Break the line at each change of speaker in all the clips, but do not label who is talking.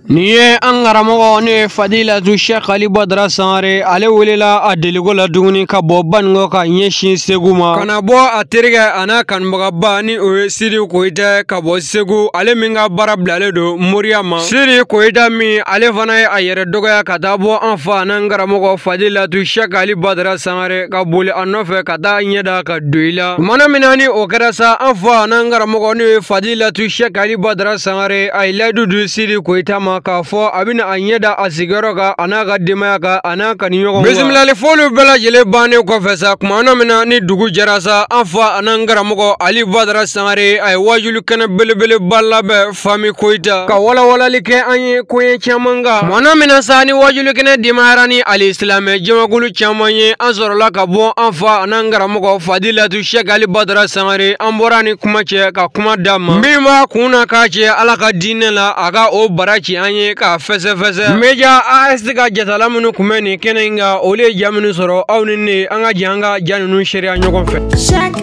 nin ye an karamɔgɔ n'o ye fadilatu sɛk ali badara sangare ale wulila a deliko la duguni ka bɔ banikɔ ka ɲɛsin segu ma ka na bɔ a terikɛ a n'a kanubagaba ni o ye sidi koyita ka bɔ segu ale min ka baara bilalen don moriya ma sidi koyita min ale fana ye a yɛrɛ dɔgɔya ka taa bɔ an fa an'an karamɔgɔ fadilatu sɛk ali badara sangare ka boli a nɔfɛ ka taa ɲɛ da a kan don in la tumana min na ni o kɛra sa an fa an'an karamɔgɔ n'o ye fadilatu sɛk ali badara sangare a ye layidu di sidi koyita ma k'a fɔ a bɛna a ɲɛ da a sigiyɔrɔ kan a n'a ka denbaya kan a n'a kanuɲɔgɔnw bisimilali foliw bɛɛ lajɛlen bannen kɔfɛ sa kumana min na ni dugu jɛra sa an fa an'an karamɔgɔ ali badara sangare a ye waajuli kɛnɛ belebeleba labɛn Fami Koyita ka walawalali kɛ an ye koɲɛ caman kan kumana min na sa ni wajulikɛnɛ dimayara ni alisilamɛ jamakulu caman ye an sɔrɔla ka bɔ an fa an'an karamɔgɔ fadilatu sɛk ali badara sangare an bɔra ni kuma cɛ ka kuma d'a ma min b'a kun na k'a cɛ ala ka diinɛ la a ka o bara ci an ye k'a fɛsɛfɛsɛ media as ka jatala minnu kun bɛ nin kɛnɛ in kan olu ye ja minnu sɔrɔ aw ni ne an ka jɛ an ka ja ninnu seereya ɲɔgɔn fɛ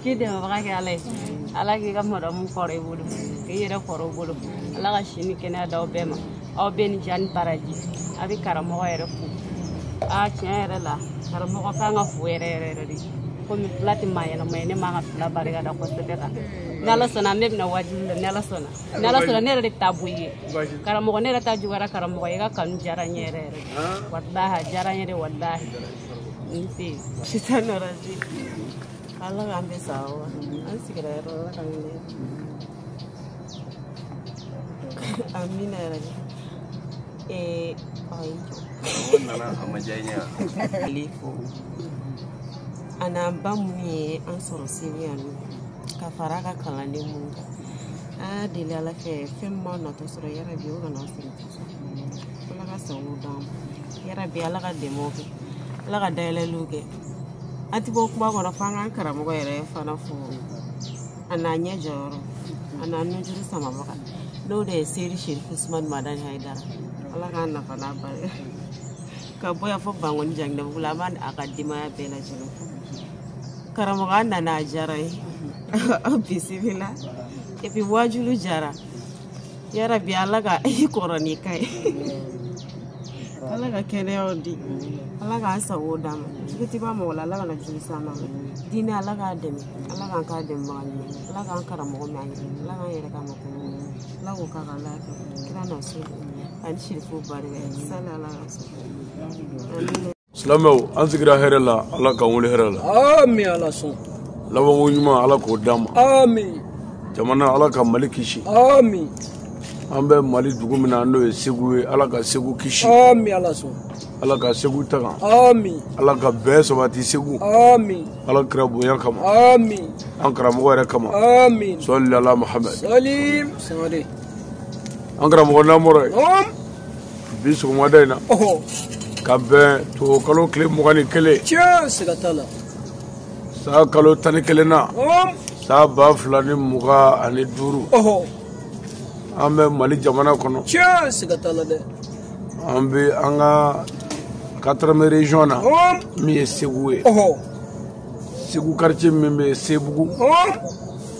k'i dɛmɛbaga kɛ ala ye ala k'i ka madamu kɔrɔ i bolo k'i yɛrɛ kɔrɔ i bolo ala ka si ni kɛnɛya d'aw bɛɛ ma aw bɛɛ ni ce ani baraji a bɛ karamɔgɔ yɛrɛ fo a tiɲɛ yɛrɛ la karamɔgɔ kan ka fo yɛrɛ yɛrɛ yɛrɛ de komi fila tɛ maa yɛlɛma ye ne man ka fila barika da kosɛbɛ kan ni ala sɔnna ne bɛna wajibi la ni ala sɔnna ni ala sɔnna ne yɛrɛ de bɛ taa bɔ i ye karamɔgɔ ne yɛrɛ ta juguyara karamɔgɔ ye i ka kanu diyara n ye yɛrɛ yɛrɛ walahi a diyara n ye de walahi n se sitan nɔrɔzi ala k'an bɛ sa wa an sigira yɔrɔ la ka wele amina yarabi ee ayi o nana
a ma diya n ye yan ale
fo a n'an ba minnu ye an sɔrɔ seli yan nɔ ka fara a ka kalanden minnu kan a deli ala fɛ fɛn min b'a natɔ sɔrɔ yarabi o kana sɔrɔ ala ka sago d'an ma yarabi ala ka dɛmɛw kɛ ala ka dayɛlɛliw kɛ an ti bɔ kuma kɔnɔ fo an k'an karamɔgɔ yɛrɛ fana fo a n'a ɲɛ jɔyɔrɔ a n'a nujuru samabaga n'o de ye seyidi sherifu usumani madani hayidara ala k'an nafa n'a barika ka bɔ yan fo bankoni janginɛbugu la an b'a a ka denbaya bɛɛ lajɛlen fo karamɔgɔ an nana a diyara an ye aw bisimila epi waajulu diyara yarabi ala ka i kɔrɔ ni ka ye ala ka kɛnɛyaw di ala k'an sago d'an ma jugu ti ban mɔgɔ la ala kana jugu s'an ma diinɛ ala k'a dɛmɛ ala k'an k'a dɛmɛbaga ɲuman ala k'an karamɔgɔ mɛn an ye ala k'an yɛrɛ ka ma kɔnɔ ala k'o k'a ka ala kɛ kira n'a so ani sirifu barika ye sani ala ka so
silamɛw an sigira hɛrɛ la ala k'an wuli hɛrɛ la ami ala
sɔn labanko
ɲuman ala k'o d'an ma
ami jamana ala
ka mali kisi ami
an bɛ
mali dugu min na n'o ye segu ye ala ka segu kisi ami ala
sɔn ala ka
segu tanga ami ala
ka
bɛn sabati segu ami
ala kira
bonya kama ami an
karamɔgɔ yɛrɛ
kama ami salli ala
muhamɛd
salim sangare
an
karamɔgɔ namɔrɔ ye bi sɔgɔmada in na ka bɛn tubabukalo tile mugan ni
kelen
san kalo tan ni kelen na san ba fila ni mugan ani duuru an bɛ mali jamana kɔnɔ
an
bɛ an ka quatrième region na min ye segu ye segu quartier min bɛ sebugu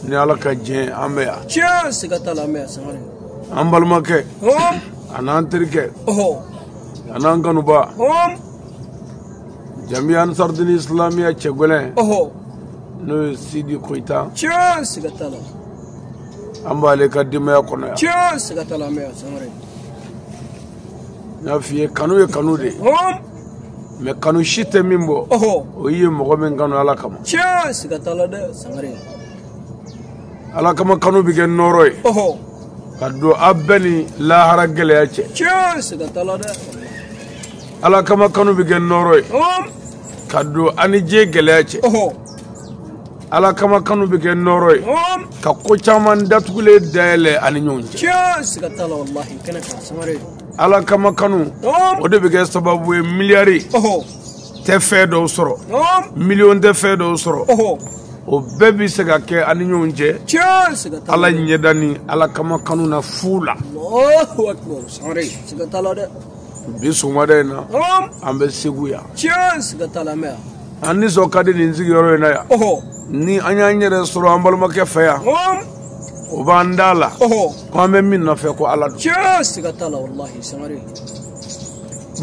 ni ala ka jɛn an bɛ yan
an
balimakɛ a n'an terikɛ a n'an kanuba jamiya ansardini isilamiya cɛgwɛlɛn n'o ye sidi koyita an b'ale ka denbaya
kɔnɔ
yan n'a f'i ye kanu ye
kanu de
ye mais kanu si tɛ min bɔ o ye mɔgɔ min kanu ala kama ala kama kanu bɛ kɛ nɔɔrɔ ye ka don aw bɛɛ ni lahara gɛlɛya cɛ ala kama kanu bɛ kɛ nɔɔrɔ ye ka don an ni diɲɛ gɛlɛya cɛ ala kama kanu bɛ kɛ nɔɔrɔ ye ka ko caman datugulen dayɛlɛ an ni ɲɔgɔn
cɛ ala kama
kanu o de bɛ kɛ sababu ye miliyari tɛ fɛn dɔw sɔrɔ miliyɔn tɛ fɛn dɔw sɔrɔ o bɛɛ bɛ se ka kɛ an ni ɲɔgɔn cɛ ala ɲɛda ni ala kama kanu na fu la
bi sɔgɔmada
in na an bɛ segu yan
an nisɔn ka di
nin sigiyɔrɔ in na yan ni an y'an yɛrɛ sɔrɔ an balimakɛ fɛ yan o b'an da la ko an bɛ min nɔfɛ ko ala don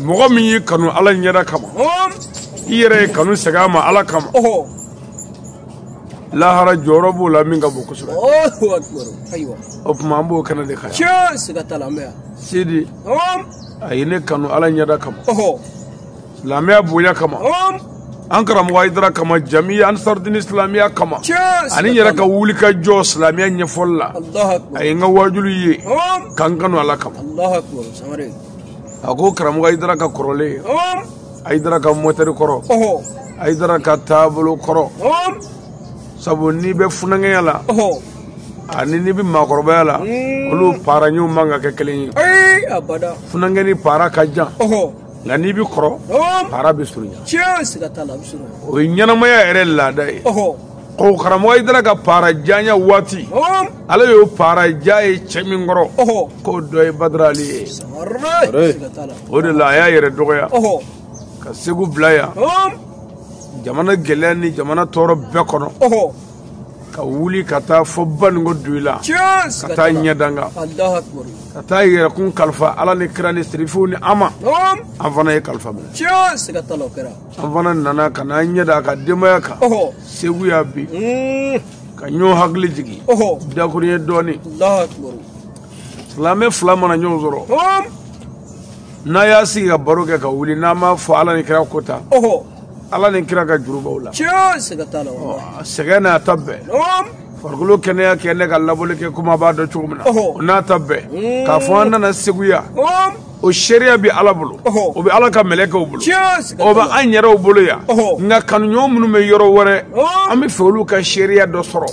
mɔgɔ min y'i kanu ala ɲɛda kama i yɛrɛ ye kanu segin a ma ala kama lahara jɔyɔrɔ b'o la min ka bon kosɛbɛ
o tuma an b'o kɛnɛ
de kan
sidi
a ye ne kanu ala ɲɛda kama silamɛya bonya kama an karamɔgɔ ayidara kama jamiya ansardini silamɛya kama ani n yɛrɛ ka wuli ka jɔ silamɛya ɲɛfɔli la a ye n ka waajuli ye ka n kanu ala kama
a ko
karamɔgɔ ayidara ka kɔrɔlen ayidara ka mɔtɛri kɔrɔ ayidara ka taabolo kɔrɔ sabu n'i bɛ funankɛya la ani n'i bɛ maakɔrɔbaya la hmm. olu paara ɲɛw man ka kɛ kelen ye
funankɛnin paara
ka jan nka n'i bɛ kɔrɔ para bɛ
surunya o ye ɲɛnamaya
yɛrɛ laada ye ko karamɔgɔ ayidara ka para janya waati ale y'o para ja ye cɛ min kɔrɔ k'o dɔ ye badara ali
ye o de la a y'a
yɛrɛ dɔgɔya ka segu bila yan jamana gɛlɛya ni jamana tɔɔrɔ bɛɛ kɔnɔ ka wuli ka taa fɔ baninko doyila ka taa ɲɛdanga ka taa yɛrɛkun kalifa ala ni kira ni sirifiw ni an ma an fana ye kalifa minɛ
an fana nana ka
n'an ɲɛ da a ka denbaya kan segu yan bi hmm. ka ɲɔgɔn hakili jigin dakurunɲɛ dɔɔnin silamɛ fila mana ɲɔgɔn sɔrɔ n'a y'a sigi ka baro kɛ ka wuli n'a m'a fɔ ala ni kira ko ta ala ni kira ka juru b'aw la tiɲɛ siga t'a
la sɛgɛn n'a
ta bɛɛ farikolo kɛnɛya kɛ ne ka labɔli kɛ komi a b'a dɔn cogo min na o n'a ta bɛɛ mm. k'a fɔ an nana segu yan o seereya bɛ ala bolo o bɛ ala ka mɛlɛkɛw bolo o bɛ an yɛrɛw bolo yan nka kanuɲɔgɔn minnu bɛ yɔrɔ wɛrɛ an bɛ fɛ olu ka seereya dɔ sɔrɔ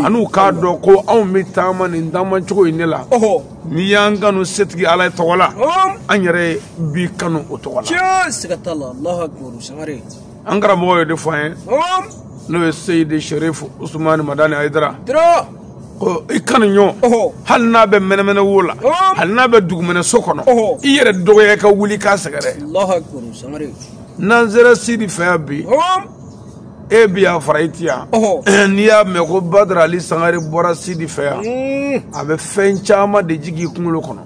an'u k'a dɔn ko anw bɛ taama nin taamacogo in de la n'i y'an kanu setigi ala tɔgɔ la an yɛrɛ b'i kanu o tɔgɔ
la an karamɔgɔ ye
de fɔ an ye n'o ye seyidi sherifu usumani madani ayidara ko i kanuɲɔgɔn hali n'a bɛ mɛnɛmɛnɛ wo la hali n'a bɛ dugumɛnɛ so kɔnɔ i yɛrɛ dɔgɔya ka wuli k'a sɛgɛrɛ
n'an sera
sidi fɛ yan bi e bi yan fara i ti yan n'i y'a mɛn ko badara ali sangare bɔra sidi fɛ yan mm. a bɛ fɛn caman de jigin i kunkolo kɔnɔ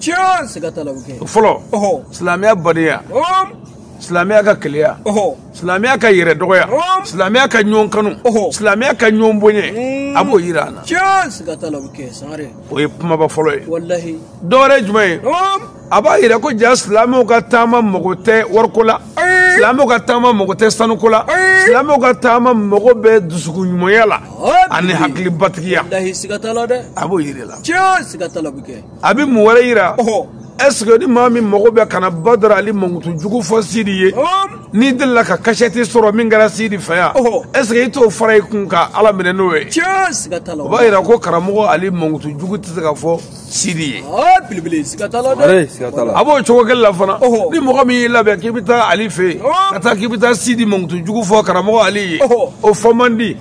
fɔlɔ
silamɛya
badenya silamɛya ka kelenya silamɛya ka yɛrɛ dɔgɔya silamɛya ka ɲɔgɔn kanu silamɛya ka ɲɔgɔn boɲɛ mm. a b'o yira an na
o ye kumaba fɔlɔ
ye dɔwɛrɛ
jumɛn ye
a b'a yira ko jaa silamɛw ka taama mago tɛ wariko la silamɛw ka taama mago tɛ sanuko la silamɛw ka taama mago bɛ dusukun ɲumanya la ani hakili batigiya
a b'o yira la a bɛ mun wɛrɛ
yira ɛseke ni maa min mago bɛ ka na badara ali mankutu jugu fɔ sidi ye n'i delila ka kasɛti sɔrɔ min kɛra sidi fɛ yan ɛseke i t'o fara i kun ka ala minɛ n'o ye o b'a
yira ko karamɔgɔ
ali mankutu jugu tɛ se ka fɔ sidi ye
belebele siga t'a la dɛ a b'o cogo
kelen la fana ni mɔgɔ min y'i labɛn k'i bɛ taa ali fɛ yen ka taa k'i bɛ taa sidi mankutu jugu fɔ karamɔgɔ ali ye o fɔ man di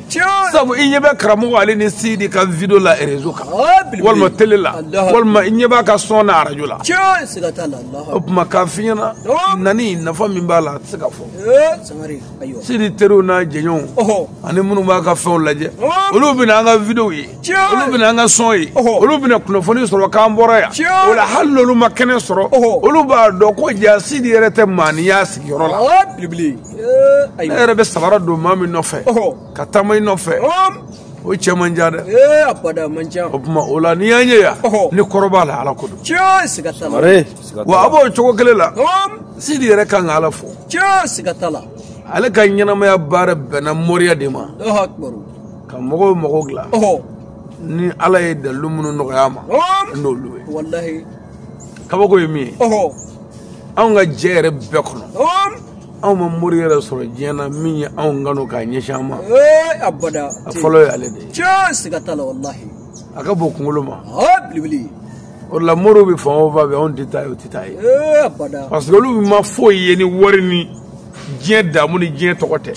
sabu i ɲɛ bɛ karamɔgɔ ali ni sidi ka video la rezo kan walima tele la walima i ɲɛ b'a ka sɔn na arajo la
o tuma k'a f'i ɲɛna
nani nafa min b'a la a tɛ se ka fɔ
sidi teriw
n'a jɛɲɔgɔnw ani minnu b'a ka fɛnw lajɛ olu bɛna an ka videow ye olu bɛna an ka son ye olu bɛna kunnafoni sɔrɔ k'an bɔra yan o la hali n'olu ma kɛnɛ sɔrɔ olu b'a dɔn ko ja sidi yɛrɛ tɛ maanin y'a sigiyɔrɔ la ne yɛrɛ bɛ sabara don maa min nɔfɛ ka taama i nɔfɛ o cɛ man ca dɛ
o tuma o la n'i y'an ye
yan ni kɔrɔ b'a la ala ko don
wa a b'o
cogo kelen la sidi yɛrɛ kan ka ala
fo ale ka
ɲɛnamaya baara bɛnna moriya de ma ka mɔgɔw mago dilan ni ala ye dalilu minnu nɔgɔy'a ma n'olu ye
kabako
ye min ye anw ka jɛ yɛrɛ bɛɛ kɔnɔ anw ma mori yɛrɛ sɔrɔ diɲɛ na min ye anw kanu k'a ɲɛsin an ma a
fɔlɔ ye ale
de ye
a ka bon kunkolo
ma
o
la moriw bɛ fan o fan fɛ anw tɛ taa yen o tɛ taa yen parce
que olu
ma foyi ye ni wari ni diɲɛ damu ni diɲɛ tɔgɔ tɛ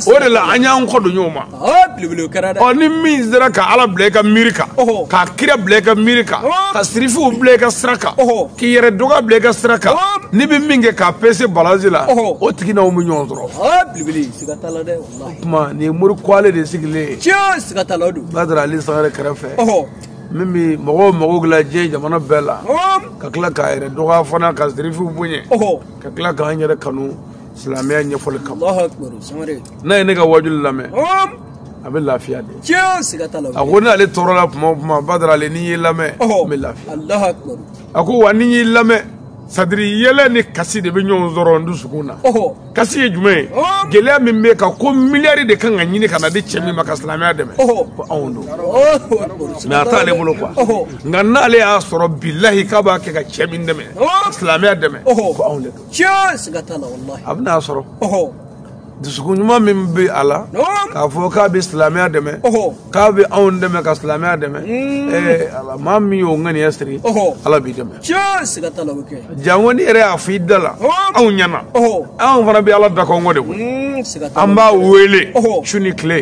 o de la an y'an kɔ don ɲɔgɔn ma ɔ ni min sera ka ala bila i ka miiri kan ka kira bila i ka miiri kan ka sirifiw bila i ka sira kan k'i yɛrɛ dɔgɔya bila i ka sira kan n'i bɛ min kɛ k'a pese balansi la o tigi n'anw bɛ ɲɔgɔn sɔrɔ o tuma nin ye mori kwalen de sigilen ye badara ali sangare kɛrɛfɛ min bɛ mɔgɔw mago dilan diɲɛ jamana bɛɛ la ka tila k'a yɛrɛ dɔgɔya fana ka sirifiw bonya ka tila k'an yɛrɛ kanu silamɛya ɲɛfɔli kama n'a ye ne ka wajuli lamɛn a bɛ lafiya de a ko n'ale tɔɔrɔla tuma o tuma badara ali ni n y'i lamɛn n bɛ lafiya a ko wa ni n y'i lamɛn sadiri yɛlɛ ni kasi de bɛ ɲɔgɔn sɔrɔ n dusukun na kasi ye jumɛn ye gɛlɛya min b'e kan ko miliyari de kan ka ɲini ka na di cɛ min ma ka silamɛya dɛmɛ ko anw don mais a t'ale bolo quoi nka n'ale y'a sɔrɔ bilahi k'a b'a kɛ ka cɛ min dɛmɛ ka silamɛya dɛmɛ ko anw de don a bɛna a sɔrɔ dusukun ɲuman min bɛ a la k'a fɔ k'a bɛ silamɛya dɛmɛ k'a bɛ anw dɛmɛ ka silamɛya dɛmɛ hmm. maa min y'o ŋaniya siri ala b'i dɛmɛ janko n'i yɛrɛ y'a fɔ i da la anw ɲɛna anw fana bɛ ala da kɔnkɔn de koyi hmm, an b'a wele su ni tile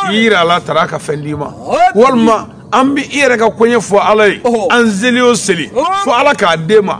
i yira ala taala ka fɛn d'i ma walima an bɛ i yɛrɛ ka koɲɛ fɔ ala ye an seli o seli fo ala k'a d'e ma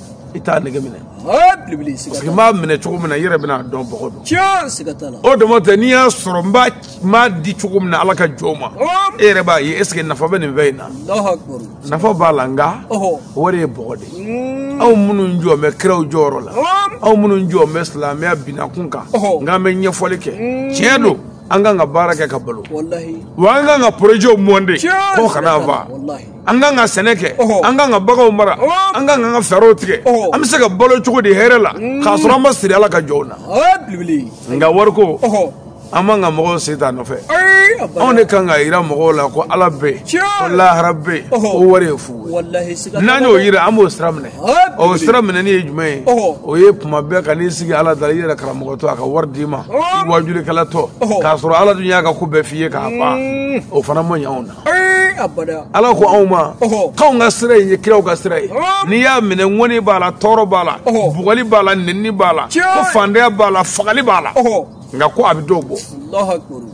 i t'a nege minɛ parce que n b'a minɛ cogo min na i yɛrɛ bɛn'a dɔn bɔgɔ don o dama tɛ n'i y'a sɔrɔ n b'a n b'a di cogo min na ala ka jɔn ma e yɛrɛ b'a ye est ce que nafa bɛ nin fɛn in na nafa b'a la nka wari ye bɔgɔ de ye anw minnu jɔ bɛ kiraw jɔyɔrɔ la anw minnu jɔ bɛ silamɛya binakun kan nka an bɛ ɲɛfɔli kɛ tiɲɛ don an kan ka baara kɛ ka balo wa an kan ka porojɛw mɔnte k'o kana fa an kan ka sɛnɛ kɛ an kan ka baganw mara an kan ka an ka fɛɛrɛw tigɛ an bɛ se ka balo cogo di hɛrɛ la mm. k'a sɔrɔ an ma siri ala ka jɔnw na nka wariko an man ka mɔgɔw sen t'a nɔfɛ anw de kan ka yira mɔgɔw la ko ala bɛ yen ko lahara bɛ yen ko wari ye fu ye n'an y'o yira an b'o sira minɛ o sira minɛni ye jumɛn ye o ye tuma bɛɛ ka n'i sigi ala da la i yɛrɛ karamɔgɔtɔ a ka wari d'i ma i wajulikɛlatɔ k'a sɔrɔ ala dun y'a ka ko bɛɛ f'i ye k'a ban mm. o fana ma ɲɛ anw na ala ko anw ma k'anw ka sira in ye kiraw ka sira ye n'i y'a minɛ ŋɔni b'a la tɔɔrɔ b'a la bugɔli b'a la nɛnini b'a la ko fandanya b'a la fagali b'a la nka ko a bɛ dɔw bɔ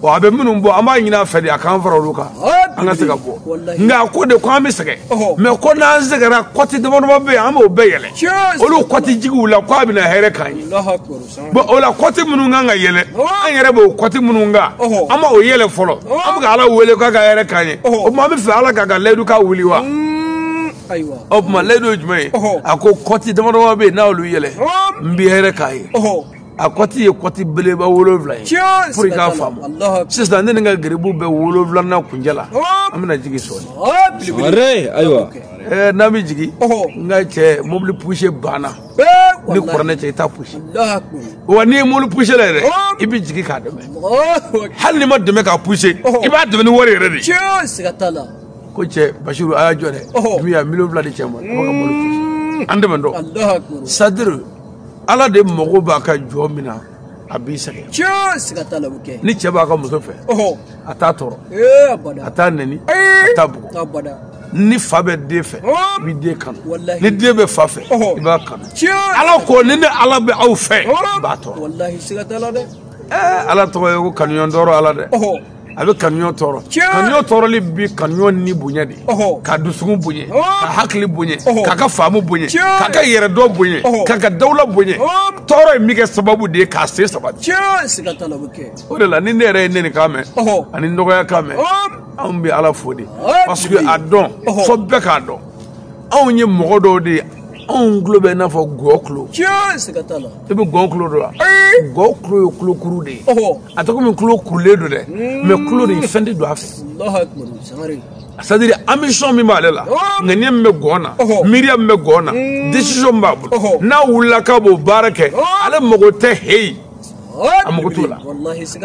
ɔ a bɛ minnu bɔ an b'a ɲini a fɛ de a k'an fara olu kan an ka se ka bɔ nka a ko de ko an bɛ sɛgɛn mɛ ko n'an sɛgɛnna kɔti damadama bɛ yen an b'o bɛɛ yɛlɛ olu kɔti jigiw la ko a bɛna hɛrɛ k'an ye bɔn o la kɔti minnu kan ka yɛlɛ an yɛrɛ b'o kɔti minnu kan an m'o yɛlɛ fɔlɔ an bɛ ka ala wele k'a ka hɛrɛ k'an ye o tuma an b'a fɛ ala k'a ka layidu ka wuli wa o tuma layidu ye jumɛn ye a ko kɔti damadama bɛ yen n'olu yɛlɛ n bɛ hɛrɛ k'a ye a kɔti ye kɔti belebeleba wolonwula ye pour i k'a faamu sisan ne ni n ka garibu bɛ wolonwulanan kuncɛ la an bɛna jigin sɔɔni ayiwa
n'an bɛ
jigin n ka cɛ mobili pusi banna ni kuranɛ cɛ i t'a pusi wa n'i ye mobili pusila yɛrɛ i bɛ jigin k'a dɛmɛ hali n'i ma dɛmɛ k'a pusi i b'a dɛmɛ ni wari yɛrɛ de ye ko cɛ basiru a y'a jɔ dɛ min y'a miliyɔn fila di cɛ ma a b'a ka mobili pusi an dɛmɛ dɔn sadiri ala de mago b'a ka jɔn min na a b'i sɛgɛn tiɲɛ siga t'a la o bɛ kɛ ni cɛ b'a ka muso fɛ ɔhɔ a t'a tɔɔrɔ ee abada a t'a nɛni Ee! a t'a bugɔ abada ni fa bɛ den fɛ Ɔ! i b'i den kanu Walahi. ni den bɛ fa fɛ Ɔhɔ. i b'a kanu tiɲɛ ala ko ni ne ala bɛ aw fɛ Ɔ! n b'a tɔɔrɔ walahi siga t'a la dɛ ɛɛ ala tɔgɔ ye ko kanuɲɔgɔn tɔɔrɔ ala dɛ ɔhɔ a bɛ kanuɲɔgɔn tɔɔrɔ kanuɲɔgɔn tɔɔrɔli bi kanuɲɔgɔn ni bonya de k'a dusukun bonya k'a hakili bonya k'a ka faamu bonya k'a ka yɛrɛdɔn bonya k'a ka dawula bonya tɔɔrɔ in bɛ kɛ sababu de ye k'a sen sabati o de la ni ne yɛrɛ ye nɛni kan mɛn ani dɔgɔya kan mɛn anw bɛ ala fo de parce que a dɔn fo bɛɛ k'a dɔn anw ye mɔgɔ dɔw de ye anw tulo bɛ i n'a fɔ gɔn tulo i bɛ gɔn kulo dɔn wa gɔn kulo ye kulo kuru de ye a tɛ komi kulo kurulen don dɛ hmm. mɛ kulo de fɛn tɛ don a fɛ sadiri ambition min b'ale la ŋaniya min bɛ gɔn na miiriya min bɛ gɔn na hmm. desizɔn min b'a bolo n'a wulila k'a b'o baara kɛ ale mago tɛ heyi a mago t'o la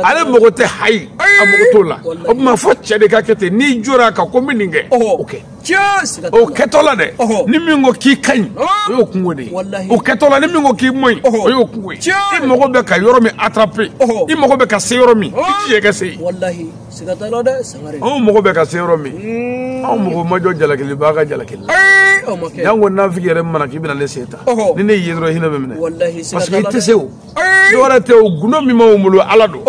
ale mago tɛ hayi a mago t'o la o tuma fo cɛ de ka kɛ ten n'i jɔra a kan ko n bɛ nin kɛ o kɛ. o kɛtɔ la dɛ ni min ko k'i ka ɲi o y'o kunko de ye o kɛtɔ la ni min ko k'i man ɲi o y'o kunko ye i mago bɛ ka yɔrɔ min attraper i mago bɛ ka se yɔrɔ min i t'i yɛrɛ se yen anw mago bɛ ka se yɔrɔ min hmm. anw mago ma jɔ jalakilibaa ka jalakili la yan ko nafiki yɛrɛ mana k'i bɛna ne sen ta ni ne y'i ye dɔrɔn hinɛ bɛ n minɛ parce que i tɛ se o dɔwɛrɛ tɛ o gundo min b'anw bolo ala don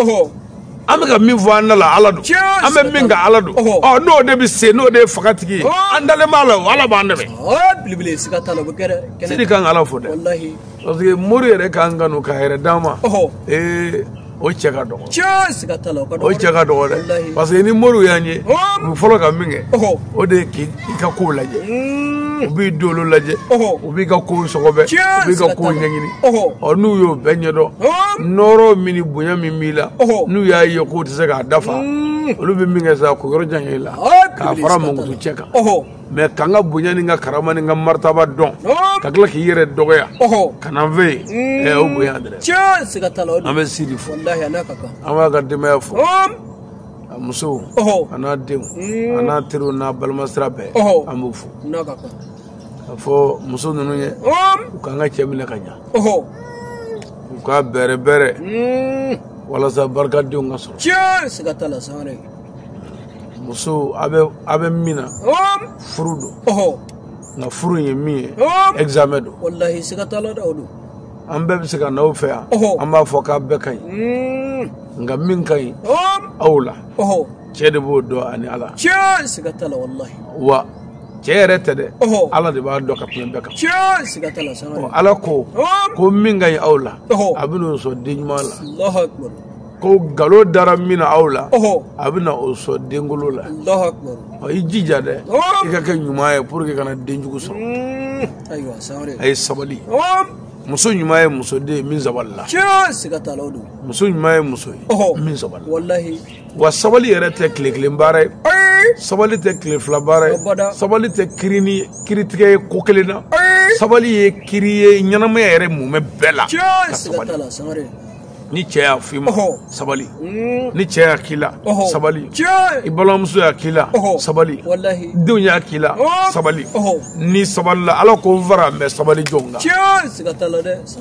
an bɛ ka min fɔ an da la ala don an bɛ min kan ala don ɔ n'o de bɛ se n'o de ye fangatigi ye an dalen b'a la o ala b'an dɛmɛ sidi k'an ka ala fo dɛ parce que mori yɛrɛ k'an kanu k'a yɛrɛ d'an ma ee o cɛ ka dɔgɔ o cɛ ka dɔgɔ dɛ parce que ni moriw y'an ye u bɛ fɔlɔ ka min kɛ o de ye k'i i ka kow lajɛ mm. u b'i dolo lajɛ u b'i ka kow sɔgɔbɛ u b'i ka kow ɲɛɲini ɔ n'u y'o bɛɛ ɲɛdɔn nɔɔrɔ min ni bonya min b'i la n'u y'a ye k'u tɛ se k'a dafa mm. olu bɛ min kɛ sa k'u yɔrɔ janya i la k'a fara mankutu cɛn kan mais ka n ka bonya ni n ka karama ni n ka maritaba dɔn ka tila k'i yɛrɛ dɔgɔya ka na n fɛ yen mm. ɛ o bonya dɛrɛ an bɛ sidi fo an b'a ka denbaya fo a musow ɔhɔ a n'a denw a n'a teriw n'a balimasira bɛɛ Ɔhɔ. an b'u fo n'a ka kan k'a fɔ muso ninnu ye ɔm u k'an ka cɛ minɛ ka ɲa ɔhɔ u k'a bɛrɛ bɛrɛ Mm. walasa barikadenw ka sɔrɔ tiɲɛ siga t'a la sangare musow a bɛ a bɛ min na ɔm furu don ɔhɔ nka furu in ye min ye ɔm examen don walahi siga t'a la dɛ o don an bɛɛ bɛ se ka n'aw fɛ yan an b'a fɔ k'a bɛɛ ka ɲi hmm. nka min ka ɲi aw la cɛ de b'o dɔn ani ala wa cɛ yɛrɛ tɛ dɛ ala de b'a dɔn ka tɛmɛ bɛɛ kan ala ko ko min ka ɲi aw la a bɛ n'o sɔn den ɲuman la ko galo dara min na aw la a bɛna o sɔn denkolon la i jija dɛ i ka kɛ ɲuman ye pour qu'i kana den jugu sɔrɔ hmm. ayiwa sangare a ye sabali muso ɲuman ye muso de ye min sabalila siga t'a la o don muso ɲuman ye muso ye min sabalila walahi wa sabali yɛrɛ tɛ tile kelen baara ye sabali tɛ tile fila baara ye sabali tɛ kirini kiritigɛ ye ko kelen na sabali ye kiri ye ɲɛnamaya yɛrɛ mumɛ bɛɛ la ka sabali ni cɛ y'a f'i ma sabali ni cɛ y'a k'i la sabali i balimamuso y'a k'i la sabali denw y'a k'i la sabali n'i sabalila ala ko n fara mɛ sabali jɔn kan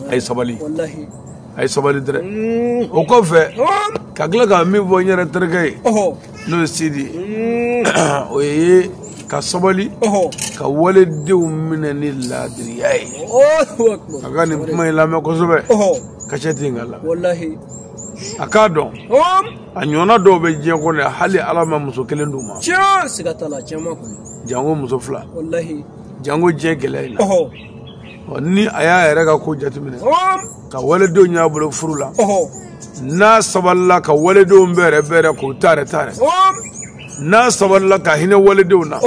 a ye sabali a ye sabali dɛrɛ o kɔfɛ ka tila ka min fɔ n yɛrɛ terikɛ ye n'o ye sidi ye o ye ka sabali ka waledenw minɛ ni laadiriya ye a ka nin kuma in lamɛn kosɛbɛ ka jateminɛ k'a la a k'a dɔn a ɲɔgɔnna dɔw bɛ diɲɛ kɔnɔ yan hali ala ma muso kelen d'u ma janko muso fila janko diɲɛ gɛlɛya in na ni a y'a yɛrɛ ka ko jateminɛ ka waledenw y'a bolo furu la n'a sabalila ka waledenw bɛrɛ bɛrɛ k'u taare taare n'a sabalila ka hinɛ waledenw na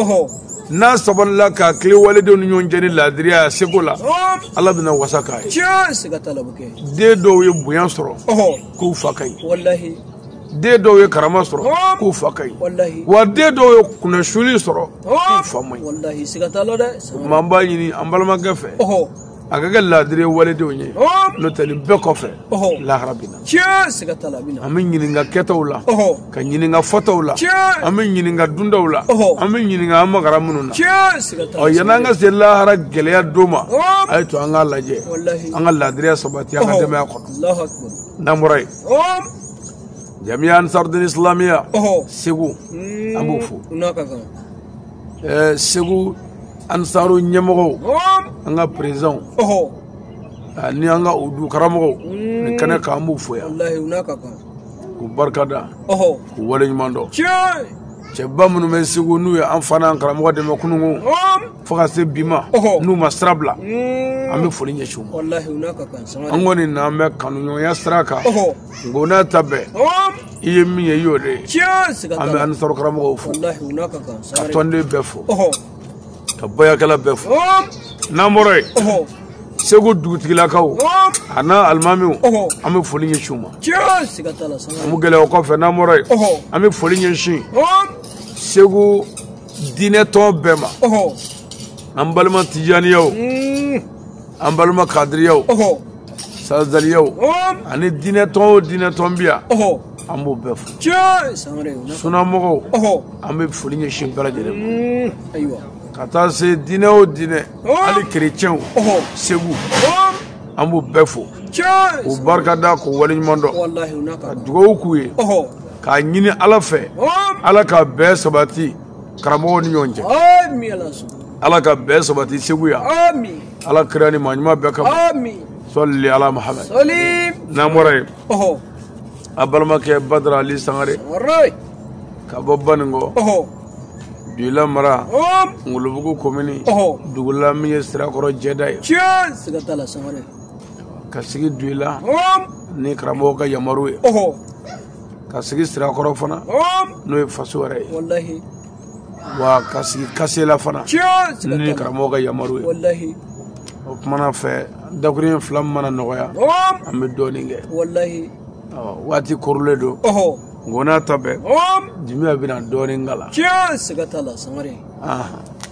n'a sabalila ka tilen waledenw ni ɲɔgɔn cɛ ni laadiriya seko la ala bɛna wasa k'a ye den dɔw ye bonya sɔrɔ k'u fa ka ɲi den dɔw ye karama sɔrɔ k'u fa ka ɲi wa den dɔw ye kunnasuli sɔrɔ k'u fa man ɲi an b'a ɲini an balimakɛ fɛ a ka kɛ laadiri waledenw ye n'o tɛ nin bɛɛ kɔfɛ lahara bɛ na an bɛ ɲininka kɛtaw la ka ɲininka fɔtaw la an bɛ ɲininka duntaw la an bɛ ɲininka an magara minnu na ɔ yanni an ka se lahara gɛlɛya don ma a ye to an k'a lajɛ an ka laadiriya sabati an ka denbaya kɔnɔ n'an bɔra yen jamiya ansarudin isilamiya segu an b'o fo segu ansaru ɲɛmɔgɔw an ka perezidanw ni an ka udu karamɔgɔw nin kɛnɛ kan an b'u fo yan k'u barika da k'u waleɲuman
dɔn cɛba minnu bɛ
segu n'u ye an fana an karamɔgɔ dɛmɛ kununko fo ka se bi ma n'u ma sira bila an bɛ foli ɲɛsin u
ma an kɔni n'an
bɛ kanuɲɔgɔnya sira kan nk'o n'a ta bɛɛ i ye min ye i y'o de ye an bɛ
ansaru karamɔgɔw
fo ka
tɔnden bɛɛ
fo ka bayakɛla bɛɛ fo n'an bɔra yen segu dugutigilakaw a n'a alimamiw an bɛ foli
ɲɛsin u ma an bɛ gɛlɛya o kɔfɛ n'an bɔra
yen an bɛ foli ɲɛsin segu diinɛ tɔn bɛɛ ma
an balima
tijaniyaw an balima kadiriyaw
sazaliyaw
ani diinɛ tɔn o diinɛ tɔn bi yan an b'o bɛɛ
fo sunamɔgɔw
an bɛ
foli ɲɛsin
bɛɛ lajɛlen ma ka
taa se
diinɛ o diinɛ hali kerecɛnw segu an b'u bɛɛ fo k'u barika
da k'u
waleɲuman dɔn ka dugawu
k'u ye
k'a
ɲini
ala fɛ ala ka bɛn sabati karamɔgɔw ni ɲɔgɔn
cɛ ala ka
bɛn sabati segu yan ala kira
ni maa
ɲuman bɛɛ kama sali
ala
mahamɛd n'an
bɔra yen an
balimakɛ badara ali
sangare ka
bɔ
baninkɔ Duila
mara ngolobugu
komini
dugula
min ye
sirakɔrɔ jɛda ye
ka
sigi duila
ni karamɔgɔ
ka yamaru
ye ka
sigi sirakɔrɔ fana n'o ye faso
wɛrɛ ye wa
ka sigi kasela fana ni
karamɔgɔ ka yamaru ye o
kumana fɛ dakuruɲɛ fila min mana nɔgɔya an bɛ
dɔɔnin kɛ
waati korolen don nkɔnɔ
ta bɛɛ
jumɛn bɛna
dɔɔnin
k'a la tiɲɛ siga t'a la
sangare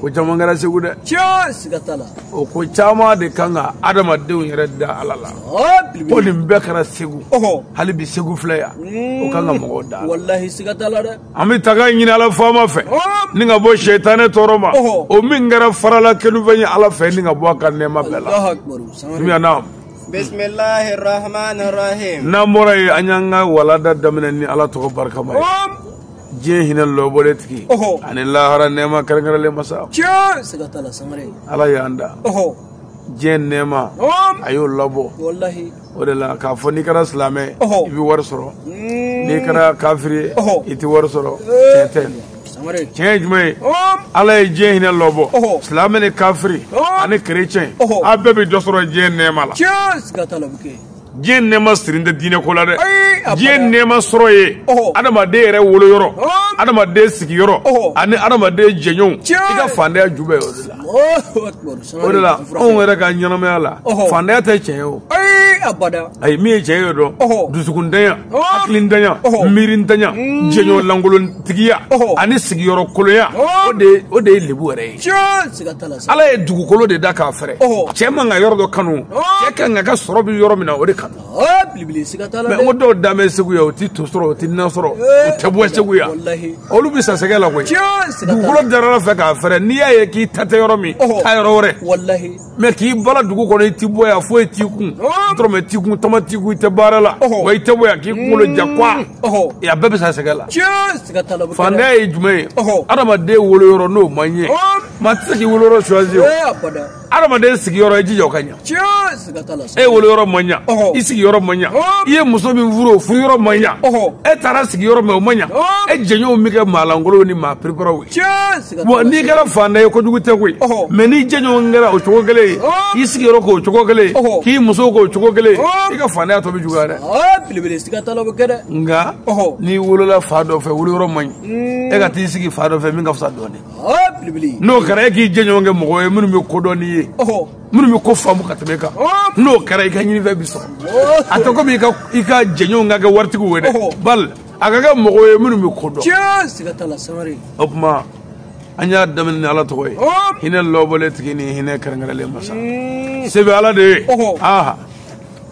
ko caman kɛra segu dɛ o ko caman
de kan ka adamadenw yɛrɛ da ala la ko nin bɛɛ kɛra
segu
hali bi segu
filɛ
yan o kan ka mɔgɔw da
an bɛ tanga ɲini ala
faama fɛ ni ka bɔ sɛtanɛ tɔɔrɔ ma o min kɛra farala kenufɛn ye ala fɛ ni ka bɔ a ka nɛɛma bɛɛ
la miyanam
n'an bɔra yen an
y'an ka walanda daminɛ ni ala tɔgɔ barikama ye diɲɛ hinɛ lɔbɔlen tigi ani lahara
nɛɛma
kɛrɛnkɛrɛnlen masa
ala y'an da
diɲɛ
nɛɛma
a y'o labɔ o de
la k'a fɔ
n'i kɛra silamɛ i bɛ wari sɔrɔ mm. n'i kɛra kafiri ye i tɛ wari sɔrɔ
eh.
tiɲɛ tɛ tiɲɛ ye
jumɛn ye
ala ye diɲɛ hinɛ lɔbɔ silamɛ ni
kafiri
ani kerecɛn a bɛɛ bɛ dɔ
sɔrɔ diɲɛ
nɛɛma la
diɲɛ nɛɛma
sirin tɛ diinɛ ko la dɛ diɲɛ
nɛɛma
sɔrɔ ye adamaden
yɛrɛ
woloyɔrɔ adamaden sigiyɔrɔ ani adamaden jɛɲɔgɔnw i ka fantanya ju
bɛ o
de la
o de la anw
yɛrɛ ka ɲɛnamaya la fantanya tɛ tiɲɛ
ye o ayi min ye tiɲɛ ye
dɔn dusukuntanya hakilintanya
miirintanya mm.
jɛɲɔgɔn lankolontigiya ani
sigiyɔrɔ kolonya
o de
ye lebu
yɛrɛ ye
ala ye dugukolo de
da k'a fɛrɛ cɛ man ka yɔrɔ
dɔ
kanu cɛ ka kan k'a ka sɔrɔ bi yɔrɔ min na o de
kanu mɛ n ko dɔw dan bɛ segu
yan o ti to sɔrɔ o ti na sɔrɔ o tɛ bɔ segu yan olu bɛ sa sɛgɛ
la koyi
dugukolo
dara ala fɛ k'a fɛrɛ
n'i y'a ye k'i ta tɛ yɔrɔ min taa yɔrɔ wɛrɛ mɛ
k'i
bala dugu kɔnɔ i ti bɔ yan foyi t'i kun dɔrɔmɛ t'i kun tama t'i kun i tɛ baara la wa i tɛ bɔ yan k'i
kunkolo
ja kwa a bɛɛ bɛ sa
sɛgɛ la fantanya ye jumɛn ye
adamaden
woloyɔrɔ
n'o ma ɲɛ maa tɛ se k'i woloyɔrɔ choisi o
adamaden
sigiyɔrɔ i jija o ka ɲa
e woloyɔrɔ ma
ɲa i sigiyɔrɔ ma ɲa i ye muso min furu o furuyɔrɔ ma ɲa e taara sigi
yɔrɔ min
o ma ɲa e jɛɲɔgɔnw bɛ kɛ
maa
lankolonw ni maa pereperaw ye wa n'i
kɛra
fantan ye kojugu tɛ koyi mɛ n'i
jɛɲɔgɔn
kɛra o cogo kelen ye i sigiyɔrɔ k'o
cogo
kelen ye k'i muso
k'o
cogo kelen ye i ka fantanya tɔ bɛ juguya dɛ
nka n'i
wolola
fan dɔ
fɛ woloyɔrɔ man ɲi e ka t'i sigi fan dɔ fɛ min ka fisa dɔɔnin
n'o kɛra e
k'i jɛɲɔgɔn kɛ mɔgɔ ye minnu bɛ ko dɔn n'i ye minnu bɛ
ko faamu
ka tɛmɛ e kan n'o kɛra i ka ɲinifɛn bi sɔrɔ a tɛ komi i ka jɛɲɔgɔn ka kɛ waritigiw ye dɛ bali a
ka
kɛ mɔgɔw ye minnu bɛ ko
dɔn o
tuma an y'a daminɛ ni ala tɔgɔ ye hinɛ lɔbɔlen
tigi
ni hinɛ kɛrɛnkɛrɛnlen masa se bɛ ala de ye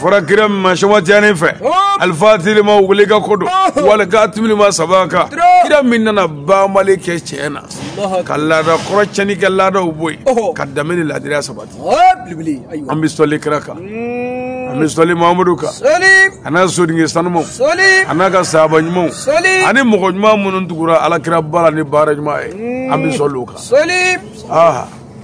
fɔra kira min ma sɛhu tijani fɛ alifatihi lima uliga ko don wali katimi lima sabaka kira min nana banbali kɛ tiɲɛ na ka laada kɔrɔ cɛni kɛ laadaw bɔ yen ka danbe ni laadiriya sabati an bɛ sɔli kira kan an bɛ sɔli mamadu kan a n'a sodinge sanumaw a n'a ka saaba ɲumanw ani mɔgɔ ɲuman minnu tugura ala kiraba la ni baara ɲuman ye an bɛ sɔli u kan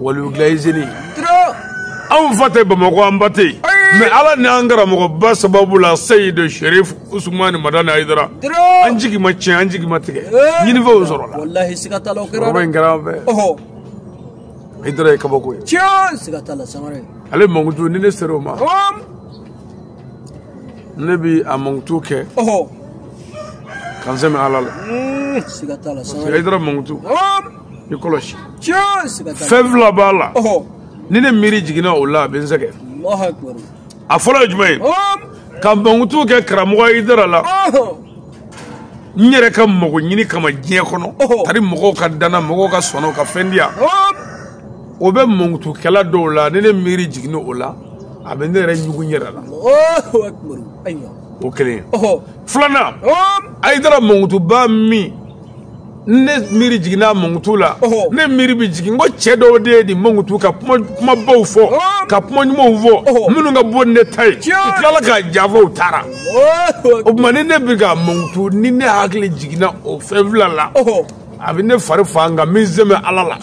waliwulayizini anw fa tɛ bamakɔ an ba tɛ yen mɛ ala ni an karamɔgɔba sababu la seyidi sherif usumani madani ayidara an jigi ma tiɲɛ an jigi ma tigɛ ɲinifɛnw sɔrɔ la walahi siga t'a la o kɛra kɔrɔba
in kɛra an fɛ
ayidara ye kabako ye tiɲɛ siga t'a
la sangare ale mankutu ni
ne sera o ma ne bi a mankutu kɛ ka n sɛmɛ ala la siga t'a la
sangare ayidara mankutu
i kɔlɔsi fɛn fila b'a la ni ne miiri jiginna o la a bɛ n
sɛgɛn a fɔlɔ ye jumɛn ye
ka mankutu kɛ karamɔgɔ ayidara la n yɛrɛ ka mago ɲini kama diɲɛ kɔnɔ tari mɔgɔw ka da n na mɔgɔw ka sɔn n na u ka fɛn di yan o bɛ mankutukɛla dɔw la ni ne miiri jiginna o la a bɛ ne yɛrɛ ɲugu n yɛrɛ la
o kelen ye
filanan ayidara mankutuba min ne miiri jiginna mankutu la ne miiri bɛ jigin ko cɛ dɔw de ye nin mankutu ka kumabaw fɔ ka kuma ɲumanw fɔ minnu ka bon ni ne ta ye u tilala k'a janfa u taara o tuma ni ne bɛ k'a mankutu ni ne hakili jiginna o fɛn fila la a bɛ ne fari fa nka n bɛ n sɛmɛ ala la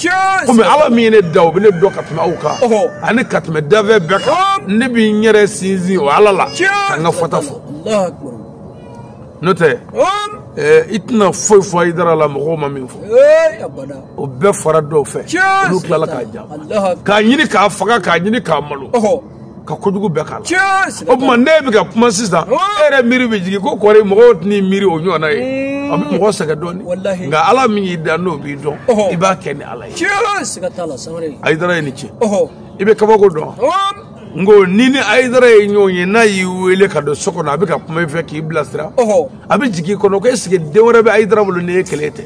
komi ala min ye ne da o bɛ ne dɔn ka tɛmɛ aw kan ani ka tɛmɛ dafɛn bɛɛ kan ne bɛ n yɛrɛ sinsin o ala la ka n ka fɔta fɔ
n'o
tɛ i tɛna foyi fɔ ayidara la mɔgɔw ma min
fɔ o bɛɛ
fɔra dɔw fɛ olu tilala k'a janfa k'a ɲini k'a faga k'a ɲini k'a malo ka kojugu bɛɛ k'a la o tuma ne bɛ ka kuma sisan e yɛrɛ miiri bɛ jigin ko kɔri mɔgɔw tɛn'i miiri o ɲɔgɔnna ye a bɛ mɔgɔ sɛgɛn dɔɔnin nka ala min y'i da n'o b'i dɔn i b'a kɛ ni ala ye
ayidara ye ni ce
i bɛ kabako dɔn n ko n'i ni ayidara ye ɲɔgɔn ye n'a y'i wele ka don so kɔnɔ a bɛ ka kuma i fɛ k'i bilasira a bɛ jigin i kɔnɔ ko ɛseke den wɛrɛ bɛ ayidara bolo ni e kelen tɛ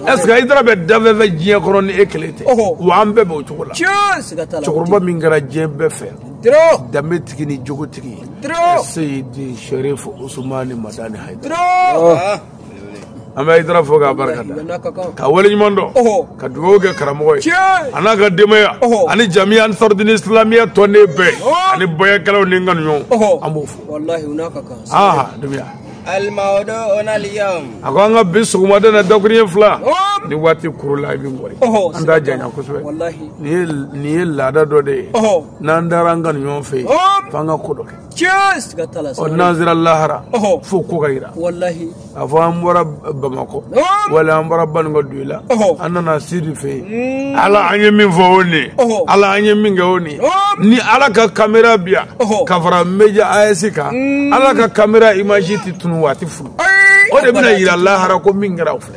ɛseke ayidara bɛ dafɛn fɛ diɲɛ kɔnɔ ni e kelen tɛ wa an bɛɛ bɛ o cogo la cɛkɔrɔba min kɛra diɲɛ bɛɛ fɛ danbe tigi ni jogotigi seyidi sherif usumani madani hayidara an bɛ ayidara fo k'a barika da ka waleɲuman dɔn ka dugawu kɛ karamɔgɔ ye a n'a ka denbaya ani jamiya ansardini islamiya tɔnden bɛɛ ani bayakɛlaw ni n kanuɲɔgɔn an b'o fo
aa
denbaya a ko an ka
bi sɔgɔmada na dakurunɲɛ fila ni waati kuru la i bɛ mɔri an t'a janya kosɛbɛ
nin ye
laada dɔ de ye n'an taara an kanuɲɔgɔn fɛ yen f'an ka ko dɔ kɛ
Cheers! Ka tala ɔ n'an sera
lahara Ɔhɔ. fo ko ka yira Wallahi. a
fɔ an
bɔra bamakɔ Ɔhɔ. wala an bɔra banko doyila Ɔhɔ. an nana sidi fɛ yen ala an ye min fɔ o nin ye Ɔhɔ. ala an ye min kɛ o nin ye Ɔhɔ. ni ala ka kamera bi yan Ɔhɔ. ka fara médias kan ala ka kamera imaji tɛ tunu wa a tɛ flou Ayi! o de bɛna yira lahara ko min kɛra o filɛ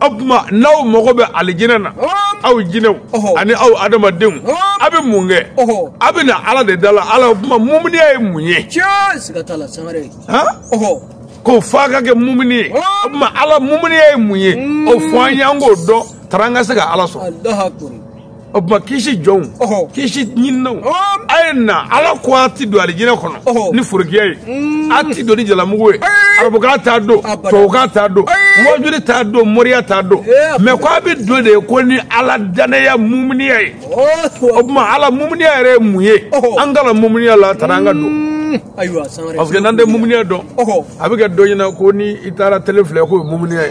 o tuma n'aw mago bɛ alijinɛ na aw jinɛw ani aw adamadenw a bɛ mun kɛ a bɛ na ala de da la ala o tuma mumuniya ye mun ye ko f'a ka kɛ mumuni ye o tuma ala mumuniya ye mun ye o fɔ an
ye
an k'o dɔn tara an ka se ka ala
sɔrɔ
o tuma kisi jɔnw Ɔhɔ. kisi ɲininnaw Ɔhɔ. a ye na ala ko a ti don alijinɛ kɔnɔ Ɔhɔ. ni forokiya ye a ti don ni jalamugu ye Ayi. arabukan t'a don Abada. tubabukan t'a don Ayi. mɔjuri t'a don moriya t'a don Ee, mais ko a bɛ don de ko ni ala danaya mumuniya ye o tuma ala mumuniya yɛrɛ ye mun ye Ɔhɔ. an ka la mumuniya la tara an ka don ayiwa san wɛrɛ parce que n'an tɛ mumuniya dɔn Ɔhɔ. a bɛ kɛ dɔ ɲɛna ko ni i taara tele filɛ k'o ye mumuniya ye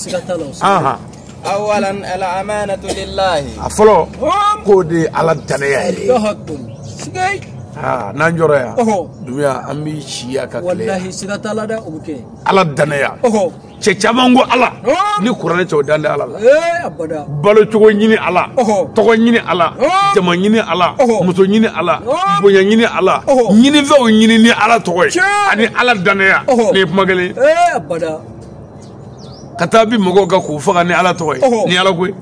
a
fɔlɔ k'o de ye ala danaya ye n'an jɔra yan dunuya an bɛ si yan ka kile ala danaya cɛ caman ko ala ni kuranɛ cɛw dalen tɛ ala la balo cogo ɲini ala tɔgɔ ɲini ala jama ɲini ala muso ɲini ala bonya ɲini ala ɲinifɛnw ɲini ni ala tɔgɔ ye ani ala danaya nin ye kuma kelen ka taa bin mɔgɔw kan k'u faga ni ala tɔgɔ ye ni ala ko ye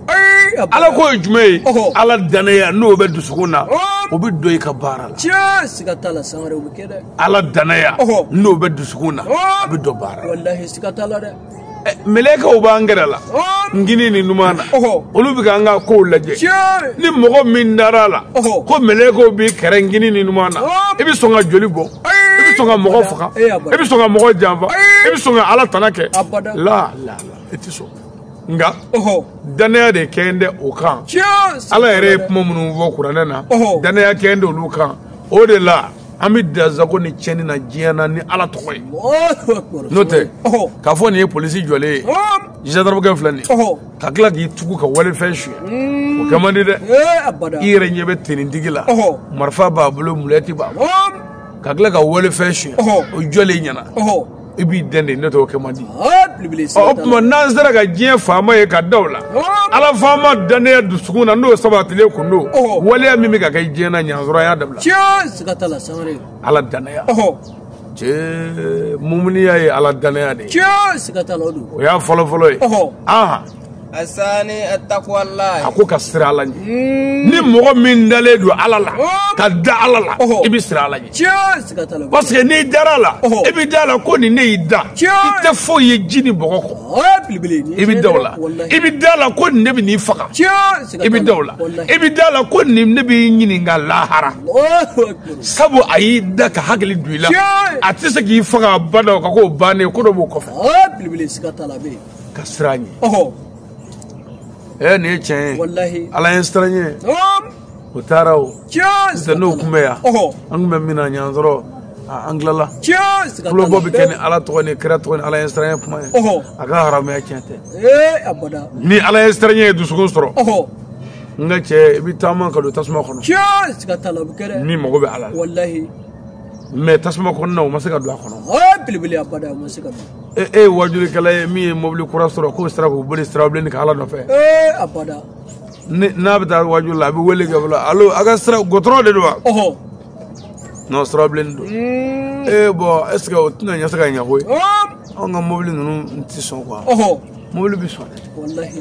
ala ko ye jumɛn ye ala danaya n'o bɛ dusukun na o bɛ dɔn i ka baara la ala danaya n'o bɛ dusukun na a bɛ dɔn baara la eh, mɛlɛkɛw b'an kɛrɛ la ngini ni numan na olu bɛ k'an ka kow lajɛ ni mɔgɔ min dara a la ko mɛlɛkɛw b'i kɛrɛ ngini ni numan na i bɛ sɔn ka joli bɔ i bɛ sɔn ka mɔgɔ faga i bɛ sɔn ka mɔgɔ janfa i bɛ sɔn ka ala tana kɛ la i tɛ sɔn nka dannaya de kɛlen tɛ o kan ala yɛrɛ ye kuma minnu fɔ kuranɛ na dannaya kɛlen tɛ olu kan o de la an bɛ dansagon ni tiɲɛni na diɲɛ na ni ala tɔgɔ ye n'o tɛ k'a fɔ nin ye polisi jɔlen ye jandaramukɛ filɛ nin ye ka tila k'i tugu ka walifɛn suɲɛ o kɛ man di dɛ i yɛrɛ ɲɛ bɛ tenintigi la marifa b'a bolo mulɛti b'a bolo ka tila ka walifɛn suɲɛ o jɔlen ɲɛ na i b'i dɛndɛ n'o t'o kɛ man di o tuma n'an sera ka diɲɛ faama ye ka da o la ala faama dannaya dusukun na n'o sabatilen kun don waleya min bɛ ka kɛ diɲɛ na ɲansɔrɔ y'a dabila ala dannaya cɛ mumuniya ye ala danaya de ye tiɲɛ siga t'a la o don o y'a fɔlɔ fɔlɔ ye aha asani
atakwalayi a ko ka siran ala ɲɛ
hmm. ni mɔgɔ min dalen don ala la ka da ala la i bɛ siran ala ɲɛ tiɲɛ siga t'a la parce que n'i dara a la i bɛ da a la ko nin ne y'i da i tɛ foyi ye ji ni bɔgɔ kɔ i bɛ da o la i bɛ da a la ko nin ne bɛ n'i faga i bɛ da o la i bɛ da a la ko nin ne b'i ɲininka lahara sabu a y'i da ka hakili don i la a tɛ se k'i faga abada o ka ko bannen ko dɔ b'o kɔfɛ belebele siga t'a la a bɛ yen ka siran a ɲɛ ɔhɔ ɛ nin ye tiɲɛ ye walahi ala ɲɛsiranɲɛ ɔm o taara o tiɲɛ siga n'o t'a kun bɛ la yan ɔhɔ an kun bɛ min na ɲansɔrɔ a, an tilala tiɲɛ siga t'a la tulobɔ bɛ kɛ ni ala tɔgɔ ni kira tɔgɔ ni ala ɲɛsiranɲɛ kuma ye ɔhɔ a ka haramuya tiɲɛ tɛ ee abada ni ala ɲɛsiranɲɛ ye dusukun sɔrɔ ɔhɔ n ka cɛ i bɛ taama ka don tasuma kɔnɔ tiɲɛ siga t'a la o bɛ kɛ dɛ min mago bɛ ala la walahi mais tasuma kɔnɔna o ma se ka don a kɔnɔ o belebele abada o ma se ka don e e ye wajulikɛla ye min ye mobili kura sɔrɔ k'o sira k'o boli sirabilenni kan ala nɔfɛ ee abada n'a bɛ taa wajuli la a bɛ wele kɛ fɔlɔ alo aw ka sira gudɔrɔn de don wa ɔhɔ non sirabilenni don ee bon est ce que o tɛna ɲɛ se ka ɲɛ koyi anw ka mobili ninnu tɛ sɔn quoi mobili bɛ sɔn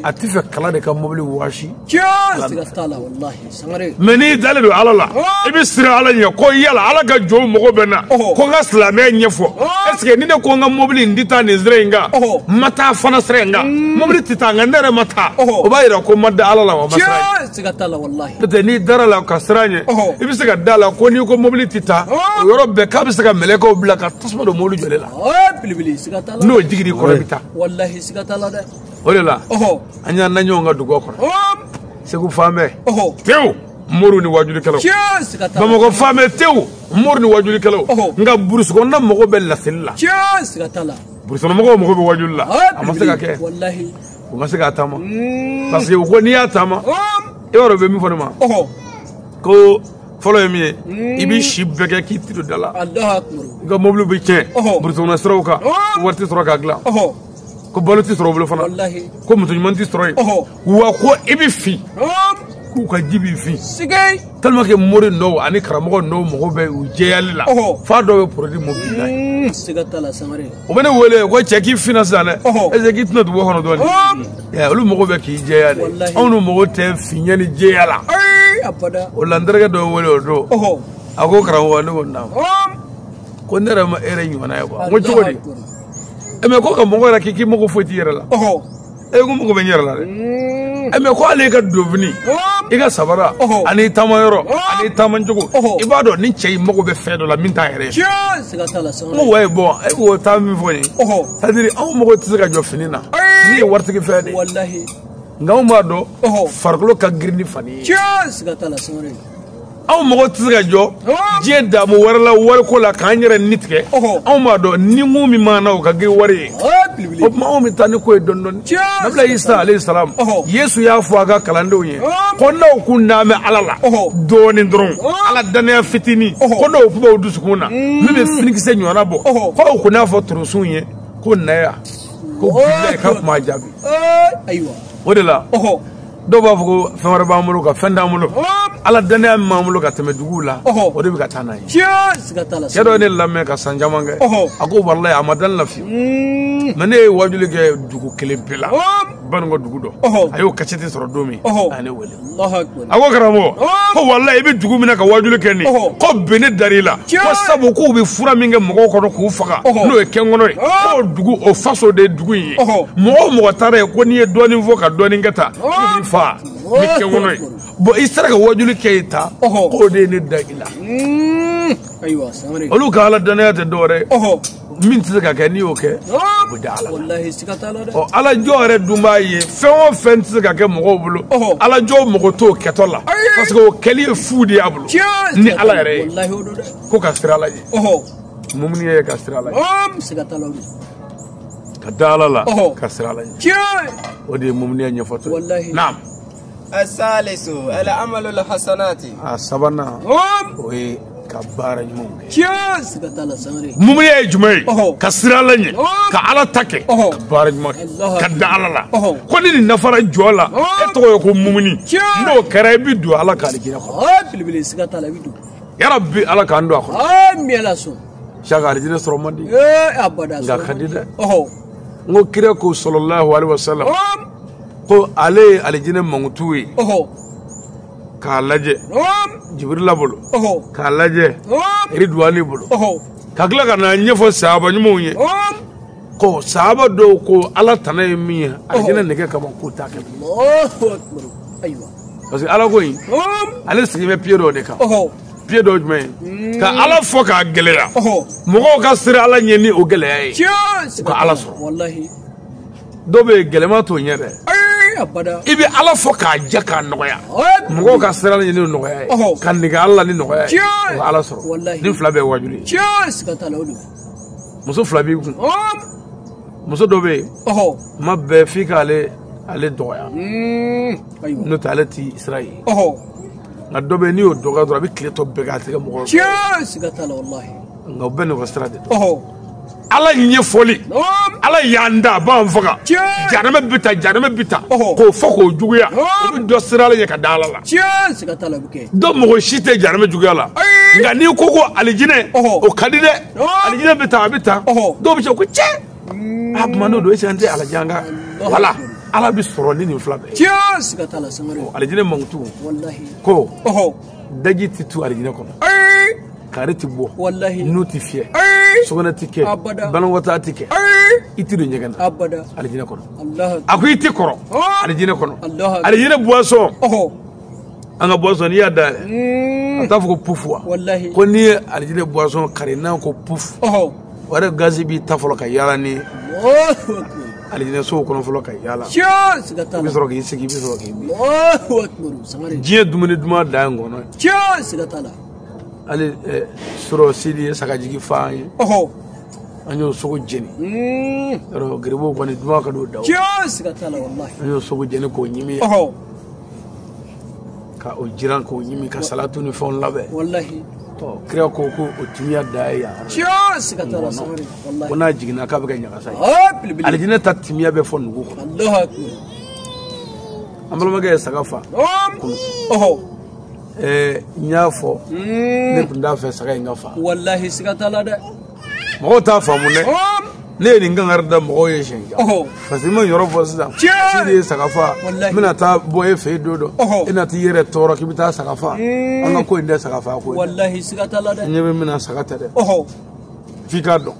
a t'a fɛ kala de ka mobili wɔɔsi mais n'i dalen don ala la i bɛ siran ala ɲɛ ko yala ala ka jɔn mago bɛ n na ko n ka silamɛya ɲɛfɔ est ce que ni ne ko n ka mobili in tɛ taa nin sira in kan n ma taa fana sira in kan mobili tɛ taa nka ne yɛrɛ ma taa o b'a yira ko n ma da ala la wa n ma siran siga t'a la walahi n'o tɛ n'i dara a la ka siran a ɲɛ i bɛ se ka da a la ko n'i ko mobili tɛ taa o yɔrɔ bɛɛ k'a bɛ se ka mɛlɛkɛw bila ka tasuma don mobili jɔlen la belebele siga t'a la n'o jiginn'i kɔnɔ i bɛ taa walahi siga t'a la dɛ o de la an y'an na ɲɔgɔn kan dugubaw kɔnɔ segu falen bɛ tewu moriw ni wajulikɛlaw bamakɔ falen bɛ tewu moriw ni wajulikɛlaw nka burusi kɔnɔna mago bɛ laseli la burusi kɔnɔ mɔgɔw mago bɛ wajuli la a ma se ka kɛ u ma se k'a taama mm. parce que u ko n'i y'a taama oh. e b'a dɔn u bɛ min fɔ ne ma oh. ko fɔlɔ ye min ye mm. i b'i si bɛɛ kɛ k'i tɛ don da la i ka mobiliw bɛ tiɲɛ oh. burusi kɔnɔ siraw kan wari tɛ sɔrɔ k'a dilan ko balo tɛ sɔrɔ u bolo fana ko muso ɲuman tɛ sɔrɔ yen wa ko i bɛ fin k'u ka ji b'i fin tellement
que
mori dɔw ani karamɔgɔ dɔw mago bɛ u jɛyali la f'a dɔw bɛ produit mobili la
ye u bɛ ne wele ko cɛ
k'i finna sisan dɛ est ce que k'i tɛ na dugu kɔnɔ dɔɔni olu mago bɛ k'i jɛya de anw n'u mago tɛ finya ni jɛya la
o la n terikɛ
dɔ wele o don a ko karamɔgɔ ne ko naamu ko ne yɛrɛ ma e yɛrɛ ɲɔgɔnna ye quoi n ko cogo di mais ko karamɔgɔ yɛrɛ k'i k'i mago foyi t'i yɛrɛ la e ko n mago bɛ n yɛrɛ la dɛ ɛ mais ko hali i ka donfini i ka sabara ani i taamayɔrɔ ani i taamacogo i b'a dɔn nin cɛ in mago bɛ fɛn dɔ la min t'a yɛrɛ ye n ko
wayi bon e
k'o taa min fɔ nin c'est-à-dire anw mago tɛ se ka jɔ fini na min ye waritigi fɛn de ye nka
anw b'a
dɔn farikolo ka girin ni fani ye
anw
mago tɛ se ka jɔ diɲɛ daamu wɛrɛ la wariko la k'an yɛrɛ ni tigɛ anw b'a dɔn ni mun min b'an na o ka girin wari ye o tuma anw bɛ taa ni ko ye dɔɔni dɔɔni nabila isa alayhi salam yesu y'a fɔ a ka kalandenw ye ko n'aw kun dalen bɛ ala la dɔɔni dɔrɔn ala dannaya fitinin ko n'aw kun b'aw dusukun na min bɛ finikisɛ ɲɔgɔnna bɔ ko aw kun n'a fɔ torosun ye ko na yan ko bilayi k'a kun b'a jaabi
o de la
dɔw b'a fɔ ko fɛn wɛrɛ b'an bolo ka fɛn t'an bolo ala dannaya min b'an bolo ka tɛmɛ duguw la o de bɛ ka taa n'a ye cɛ dɔ ye
ne lamɛn ka
san caman kɛ a ko walayi a ma da ne la fiyewu mm. mais ne ye waajuli kɛ dugu kelen pe la banikɔ dugu dɔ a y'o kasɛti sɔrɔ don min a ye ne wele a ko karamɔgɔ ko walayi i bɛ dugu min na ka waajuli kɛ nin ko bɛn ne dar'i la ko sabu k'u bɛ fura min kɛ mɔgɔw kɔnɔ k'u faga n'o ye kɛnkɔnɔ ye k'o dugu o faso de dugu in ye mɔgɔ o mɔgɔ taara yen ko n'i ye dɔɔnin fɔ ka dɔɔnin kɛ tan k'u b'i faga ni kɛnkɔnɔ ye bon i sera ka wajuli kɛ yen tan k'o de ye ne da i la
olu ka ala dannaya tɛ
dɔwɛrɛ ye min tɛ se ka kɛ n'i y'o kɛ o bɛ da ala la
ɔ ala jɔn yɛrɛ dun
b'a ye fɛn o fɛn tɛ se ka kɛ mɔgɔw bolo ala jɔn mago t'o kɛtɔ la parce que o kɛli ye fu de y'a bolo ni ala yɛrɛ ye ko ka
siran ala
ɲɛ mumuni ye ka siran ala ɲɛ
ka
da ala la ka siran ala ɲɛ o de ye mumuniya ɲɛfɔtɔ ye naam
asalisu alamalul hasanati a sabanan
o ye ka baara ɲumanw
kɛ mumuni ye jumɛn ye
ka siran ala ɲɛ ka ala ta kɛ ka baara ɲuman kɛ ka da ala la ko ni nin dafara jɔn na e tɔgɔ ye ko mumuni n'o kɛra i bɛ don ala ka alijinɛ kɔnɔ
yarabi ala
k'an don a kɔnɔ
saka alijinɛ
sɔrɔ man di ee abada nka
ka di
dɛ ɔhɔ n ko kira ko sallallahu alaihi wasallam ɔm ko ale ye alijinɛ mankutu ye ɔhɔ k'a lajɛ ɔm jibirila bolo ɔhɔ k'a lajɛ ɔm iriduwani bolo ɔhɔ ka tila ka na ɲɛfɔ sahaba ɲumanw ye ɔm ko sahaba dɔw ko ala tana ye min ye alijinɛ nege kama k'o t'a kɛ Allahu akbar
ayiwa parce que
ala ko in ɔm ale sigi bɛ piye dɔ de kan ɔhɔ piye dɔ jumɛn ye ka ala fɔ k'a gɛlɛya mɔgɔw ka siran ala ɲɛ ni o gɛlɛya ye u ka ala
sɔrɔ dɔw bɛ
yen gɛlɛma t'o ɲɛ dɛ i bɛ
ala fɔ
k'a jɛ k'a nɔgɔya mɔgɔw ka siran ala ɲɛ ni o nɔgɔya ye ka nege ala la ni nɔgɔya ye o ka ala sɔrɔ nin fila bɛɛ ye
wajuli ye muso
fila b'i kun muso dɔ bɛ yen kuma bɛɛ f'i k'ale ale dɔgɔya
n'o tɛ ale ti
sira ye nka dɔ bɛ yen n'i y'o dɔgɔya dɔrɔn a bɛ tile tɔ bɛɛ kɛ a tɛ kɛ mɔgɔ ye tiɲɛ siga t'a la
walahi nka u bɛɛ n'u ka
sira de don ala ɲɛfɔli ala y'an da a b'an faga janama bɛ tan janama bɛ tan k'o fɔ k'o juguya o bɛ dɔ siran ala ɲɛ ka da ala
la dɔ mako si tɛ
janama juguya la nka n'i ko ko alijinɛ o ka di dɛ alijinɛ bɛ tan a bɛ tan dɔw bɛ se ko cɛ a kuma n'o don est-ce que an tɛ ala jan kan wala ala bɛ sɔrɔ ni nin fila bɛɛ ye tiɲɛ siga t'a la
sangare alijinɛ
mankutu ko daji tɛ tu alijinɛ kɔnɔ kaari tɛ bɔ nun tɛ fiyɛ sugunɛ tɛ kɛ banakɔtaa tɛ kɛ i tɛ don ɲɛgɛn na alijinɛ kɔnɔ a ko i
tɛ
kɔrɔ alijinɛ kɔnɔ
alijinɛ
buwasɔn an ka buwasɔn n'i y'a dayɛlɛ a t'a fɔ ko pufu wa ko n'i ye
alijinɛ
buwasɔn kari n'a ko pufu o yɛrɛ gazi b'i ta fɔlɔ ka yaala ni alijinɛsow kɔnɔ fɔlɔ ka yaala i bɛ sɔrɔ k'i
sigi i bɛ
sɔrɔ
k'i min diɲɛ dumuni duman
dan ye ngɔnɔ ye hali surɔ sidi ye sagajigi fa an ye an y'o sogo jeni yɔrɔ garibuw kɔni duman ka don daw
an y'o sogo jeni k'o
ɲimi ka o jiran k'o ɲimi ka salatu ni fɛnw labɛn
walahi kira ko
ko o timiya dan ye yan tiɲɛ siga t'a la
sangare walahi ko n'a jiginna
k'a bɛ kɛ ɲagasa ye ah, alijinɛ ta
timiya
bɛ fo nugu
kɔnɔ
alahu akbar an balimakɛ ye saga fa kunu ɔhɔ n y'a fɔ ne tun t'a fɛ saga in ka fa walahi siga t'a la
dɛ mɔgɔw
t'a faamu dɛ ne ye nin kankari da mɔgɔw ye siɲɛ caman parce que n ma yɔrɔ fɔ sisan sidi ye saga fa n bɛna taa bɔ e fɛ yen don dɔ e na t'i yɛrɛ tɔɔrɔ k'i bɛ taa saga fa an ka ko in tɛ sagafa ko ye
ɲɛ bɛ min na saga tɛ
dɛ f'i k'a dɔn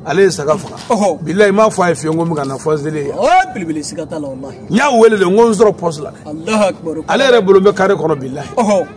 ale ye saga faga bilayi n m'a fɔ a ye fiyewu ko n bɛ ka na fɔseli ye
n y'a wele de n ko n
sɔrɔ pɔsi la ale
yɛrɛ bolo bɛ kare
kɔnɔ bilayi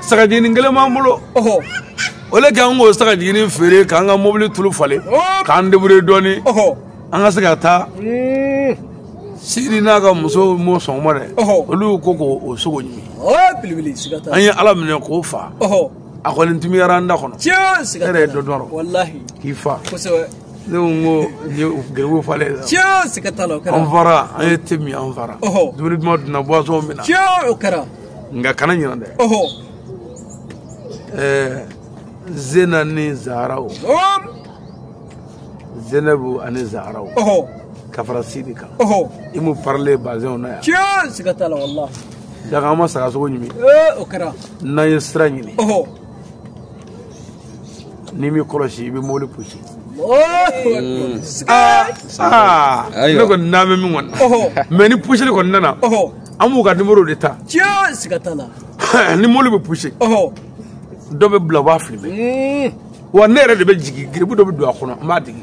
sagajiginin kelen b'an bolo o le kɛ an k'o sagajiginin feere k'an ka mobili tulu falen k'an debrouiller dɔɔni an ka se ka taa hmm. sidi n'a ka muso ma sɔn o ma dɛ olu ko k'o sogo ɲimi
an ye ala minɛ k'o
fa a kɔni timiyara an da kɔnɔ e yɛrɛ ye dɔ dun k'i fa
ne ko n ko
n ye garibu falen la tiɲɛ siga t'a la o kɛra
an fara an
ye te min an fara dumuni duman dunna buwasɔn minna tiɲɛ o kɛra
nka kana
ɲinan dɛ ɛɛ zena ni zaharaw zenabu ani zaharaw ka fara sidi kan i m'u parelen bazɛnw na yan tiɲɛ siga t'a
la walahi daga an ma sagasogo
ɲimi o kɛra
n'an ye sira
ɲini n'i m'i kɔlɔsi i bɛ mobili pusi ne kɔni n'an bɛ min kɔni mɛ ni pusili kɔni nana an b'u ka nimoro de
ta ni
mobili bɛ pusi dɔ bɛ bila u b'a filime wa ne yɛrɛ de bɛ jigin garibu dɔ bɛ don a kɔnɔ n b'a digi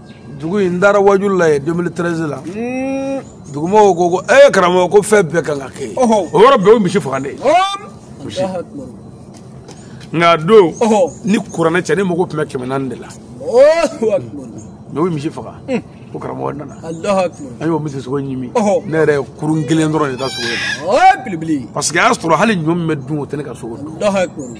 dugu in n taara waajuli la yen 2013 la dugumɔgɔw ko ko ee karamɔgɔ ko fɛn bɛɛ kan ka kɛ yen o yɔrɔ bɛɛ o misi faga ne misi
nka
don ni kuranɛ cɛ ne mago tun bɛ kɛmɛ naani de
la mɛ o ye misi
faga ko karamɔgɔ nana an
y'o misi sogo
ɲimi ne yɛrɛ ye kurun kelen dɔrɔn de ta sogo ye
parce que a y'a sɔrɔ
hali ɲɔ min bɛ dun o tɛ ne ka so kɔnɔ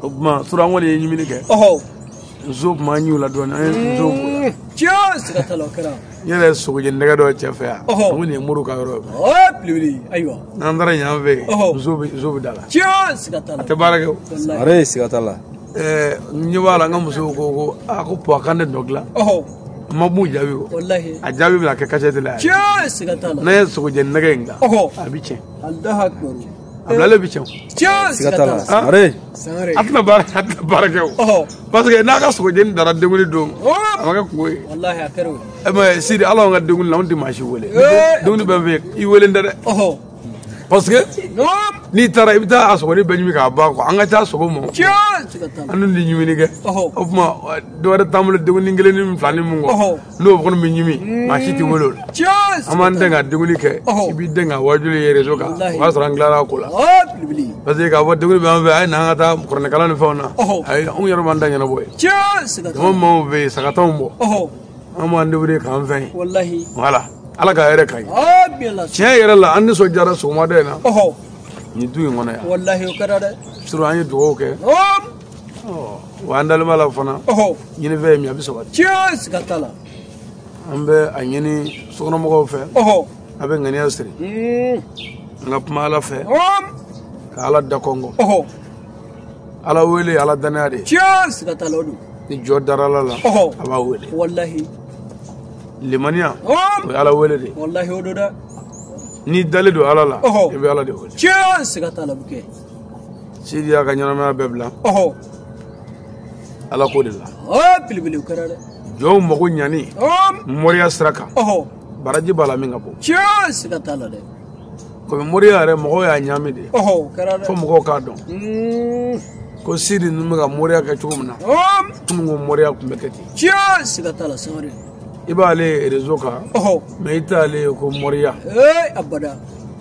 o tuma
tura kɔni ye ɲimini kɛ nso tuma an y'u la dɔɔni an ye mm.
nso n yɛrɛ sogojeni
nɛgɛ dɔ cɛ fɛ yan an ko nin ye mori ka yɔrɔ ye ayiwa
n'an taara yan fɛ
nso bɛ nso bɛ da la a tɛ
baara kɛ
sangare siga
t'a la ɛɛ n
ɲɛ b'a la n ka musow ko ko a ko pɔ a kan ne dɔ dilan ma b'u jaabi o a jaabi bɛna kɛ
kasɛti
la yan n'a
ye sogojeni
nɛgɛ in dilan a bɛ tiɲɛ
a bilalen bɛ
tiɲɛ siga t'a
la sangare a tɛna
baara a tɛna baara kɛ o parce que n'a ka sogojeni dara denkunli don a ma kɛ kungo ye ɛ mɛ sidi ala y'an ka denkunli la
anw tɛ
maa si wele denkunli bɛ n fɛ
i
welelen tɛ dɛ parce que n'i taara i bɛ taa a sogonin bɛɛ ɲimi k'a ban quoi an ka taa sogo mɔ an dun tɛ ɲimini kɛ o tuma dɔ wɛrɛ t'an bolo denkunin kelen ni fila ni mun kɔ n'o kɔni bɛ ɲimi maa si tɛ wele o la an b'an den ka denkunli kɛ i b'i den ka waajuli ye rezo kan o b'a sɔrɔ an tilara ko la parce que k'a fɔ denkunli bɛ an fɛ a ye na an ka taa kuranɛkalan ni fɛnw na ayi anw yɛrɛ b'an da ɲɛnabɔ ye jama maaw bɛ yen saga tan bɔ an b'an debrouiller k'an fɛn ye voilà ala ka hɛrɛ ka ɲi tiɲɛ yɛrɛ la an nisɔndiyara sɔgɔmada in na nin du in kɔnɔ yan surɔ an ye dugawu kɛ wa an dalen b'a la fana ɲini fɛn ye min a bɛ sabati tiɲɛ siga t'a la an bɛ a ɲini sokɔnɔmɔgɔw fɛ a bɛ ŋaniya siri an ka kuma ala fɛ ka ala da kɔnkɔn ala wele ala danaya de tiɲɛ siga t'a la o don ni jɔn dara ala la a b'a wele walahi limaniya o ye ala wele de walahi o don dɛ n'i dalen don ala la i bɛ ala de wele tiɲɛ siga t'a la o bɛ kɛ sidi y'a ka ɲɛnamaya bɛɛ bila ala ko de la belebele kɛra dɛ jɔnw mago ɲani moriya sira kan baraji b'a la min ka bon tiɲɛ siga t'a la dɛ komi moriya yɛrɛ mɔgɔw y'a ɲaami de fo mɔgɔw k'a dɔn hmm. ko sidi ninnu bɛ ka moriya kɛ cogo min na kunun ko moriya tun bɛ kɛ ten tiɲɛ siga t'a la sangare i b'ale rezo kan mɛ i t'ale ko moriya abada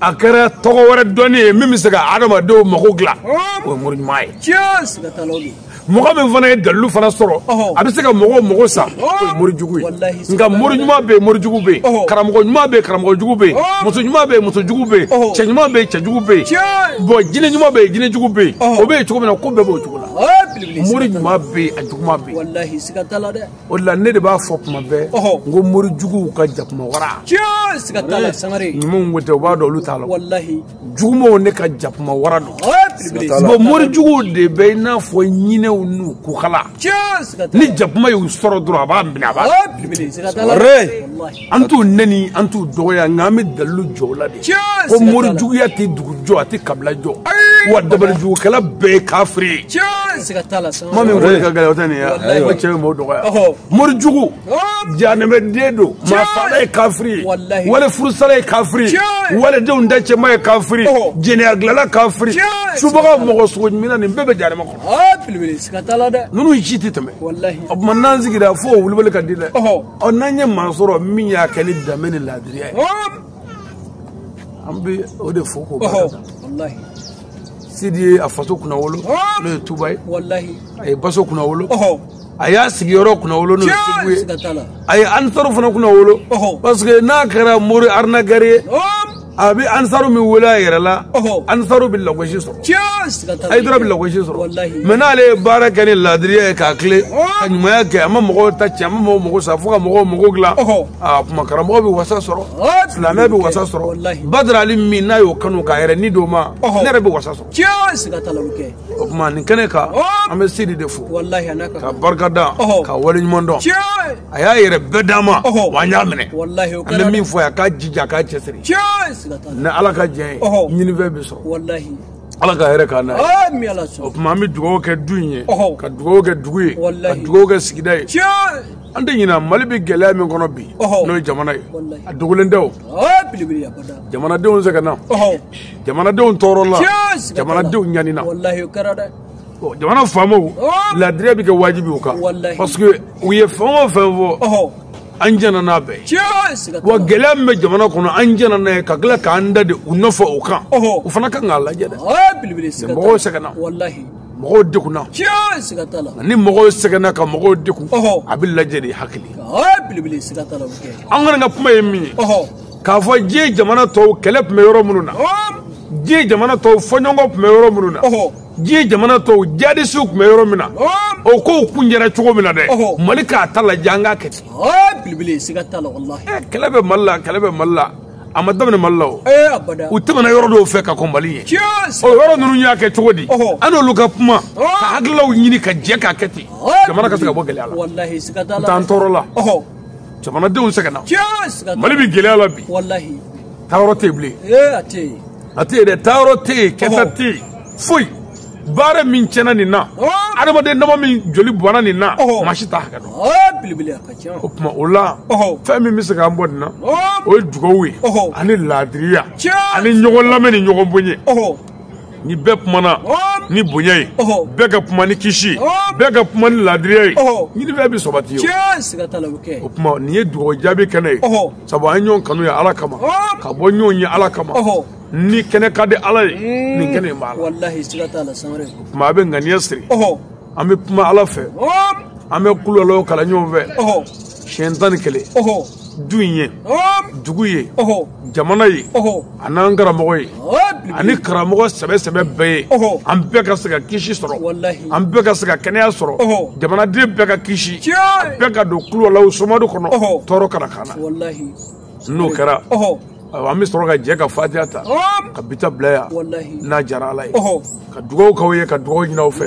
a kɛra tɔgɔ wɛrɛ dɔnni ye min bɛ se ka adamadenw mago dilan o ye mori ɲuman ye mɔgɔ min fana ye dalilu fana sɔrɔ a bɛ se ka mɔgɔw mago sa o ye mori jugu ye nka mori ɲuman bɛ yen mori jugu bɛ yen karamɔgɔ ɲuman bɛ yen karamɔgɔ jugu bɛ yen muso ɲuman bɛ yen muso jugu bɛ yen cɛ ɲuman bɛ yen cɛ jugu bɛ yen bɔn jinɛ ɲuman bɛ yen jinɛ jugu bɛ yen o bɛ yen cogo min na ko bɛɛ b'o cogo la mori ɲuman bɛ yen a juguman bɛ yen o de la ne de b'a fɔ tuma bɛɛ n ko mori juguw ka jakuma wara siga t'a la sangare ɲumanw ko tɛ u b'a dɔn olu t'a la walahi jugumanw de ka jakuma wara don bon mori juguw de bɛ i n'a fɔ ɲinɛw n'u kukala ni jakuma y'u sɔrɔ dɔrɔn a b'a minɛ a b'a an t'u neni an t'u dɔgɔya nka an bɛ dalilu jɔ o la de ko mori juguya tɛ dugu jɔ a tɛ kabila jɔ wa dabali jugukɛla bɛɛ ye kafiri ye kuma min fɔli ka gɛlɛn o tɛ nin ye ko cɛ bɛ mɔgɔw dɔgɔya mori jugu janɛmɛden don maafaala ye kafiri ye wali furusala ye kafiri ye walidenw da cɛnna ye kafiri jɛnɛya dilanna kafiri subaga mɔgɔ sogo ɲimina nin bɛɛ bɛ janɛmɛ kɔnɔ ninnu si tɛ tɛmɛ o tuma n'an sigira fo o wulibali ka di dɛ ɔ n'an ye maa sɔrɔ min y'a kɛ ni danbe ni laadiriya ye an bɛ o de fo k'o barika da sidi ye a faso kunnawolo n'o ye tuba ye a y'a baso kunnawolo a y'a sigiyɔrɔ kunnawolo n'o ye segu ye a ye ansaru fana kunnawolo parce que n'a kɛra mori arnaqueur ye a bɛ ansaru min wele a yɛrɛ la ansaru bɛ lagosi sɔrɔ hayidara bɛ lagosi sɔrɔ mɛ n'ale ye baara kɛ ni laadiriya ye k'a tilen ka ɲumanya kɛ a ma mɔgɔw ta cɛ a ma mɔgɔw mago sa fo ka mɔgɔw mago dilan a tuma karamɔgɔ bɛ wasa sɔrɔ silamɛ bɛ wasa sɔrɔ badara ali min n'a y'o kanu k'a yɛrɛ ni d'o ma ne yɛrɛ bɛ wasa sɔrɔ o tuma nin kɛnɛ kan an bɛ sidi de fo ka barika da ka wale ɲuman dɔn a y'a yɛrɛ bɛɛ d'an ma wa an y'a minɛ an bɛ min fɔ yan k'a jija k'a cɛsiri ni ala ka jɛn ye ɲinifɛn bɛ sɔrɔ ala ka hɛrɛ k'an na o tuma an bɛ dugawu kɛ du in ye ka dugawu kɛ dugu ye ka dugawu kɛ sigida ye an tɛ ɲinɛ mali bɛ gɛlɛya min kɔnɔ bi n'o ye jamana ye a dogolen tɛ o jamanadenw sɛgɛnna jamanadenw tɔɔrɔla jamanadenw ɲanina jamana faamaw laadiriya bɛ kɛ wajibi u kan parce que u ye fɛn o fɛn fɔ an jɛnna n'a bɛɛ ye wa gɛlɛya min bɛ jamana kɔnɔ an jɛnna n'a ye ka tila k'an da de u nɔfɛ o kan u fana kan k'a lajɛ dɛ mɔgɔw sɛgɛnna mɔgɔw degunna
ni mɔgɔw sɛgɛnna ka
mɔgɔw degun a bɛ lajɛ de hakili
an kɔni ka kuma ye min ye
k'a fɔ diɲɛ jamana tɔw kɛlɛ tun bɛ yɔrɔ minnu na diɲɛ jamana tɔw fɔɲɔgɔnkɔ tun bɛ yɔrɔ minnu na diɲɛ jamana tɔw jadisiw tun bɛ yɔrɔ min na o kow kuncɛra cogo min na dɛ mali k'a ta lajɛ an k'a kɛ ten
kɛlɛ bɛ mali la
kɛlɛ bɛ mali la a ma daminɛ mali la o u
tɛmɛna yɔrɔ dɔw
fɛ ka kɔn mali ye o yɔrɔ ninnu y'a kɛ cogo di an n'olu ka kuma ka hakililaw ɲini ka jɛ k'a kɛ ten jamana ka se ka bɔ gɛlɛya la n t'an
tɔɔrɔla
jamanadenw sɛgɛnna mali bɛ gɛlɛya la bi taayɔrɔ
tɛ yen
bilen a tɛ yen dɛ taayɔrɔ tɛ yen kɛta tɛ yen foyi baara min tiɲɛna nin na adamaden dama min joli bɔnna nin na maa si t'a hakɛ dɔn o tuma
o la
fɛn min bɛ se k'an bɔ nin na o ye dugawu ye ani laadiriya ani ɲɔgɔn lamɛn ni ɲɔgɔn bonya ni bɛɛ kumana ni bonya ye bɛɛ ka kuma ni kisi bɛɛ ka kuma ni laadiriya ye ɲinifɛn bɛ sabati ye o tuma nin ye dugawu jaabi kɛnɛ ye sabu an ye ɲɔgɔn kanu ye ala kama ka bɔ ɲɔgɔn ye ala kama nin kɛnɛ ka di ala ye mm. nin kɛnɛ in b'a
la o tuma a bɛ
ŋaniya siri an bɛ kuma ala fɛ an bɛ kuluwalahu kalan ɲɔgɔn fɛ siɲɛ tan ni kelen du in ye dugu ye jamana ye an'an karamɔgɔ ye ani karamɔgɔ sɛbɛ sɛbɛ bɛɛ ye an bɛɛ ka se ka kisi sɔrɔ an bɛɛ ka se ka kɛnɛya sɔrɔ jamanaden bɛɛ ka kisi bɛɛ ka don kuluwalahu somadu kɔnɔ tɔɔrɔ kana k'an na n'o kɛra ayiwa an bɛ sɔrɔ ka jɛ ka fatiha ta ka bi ta bila yan n'a diyara ala ye ka dugawu k'aw ye ka dugawu ɲin'aw fɛ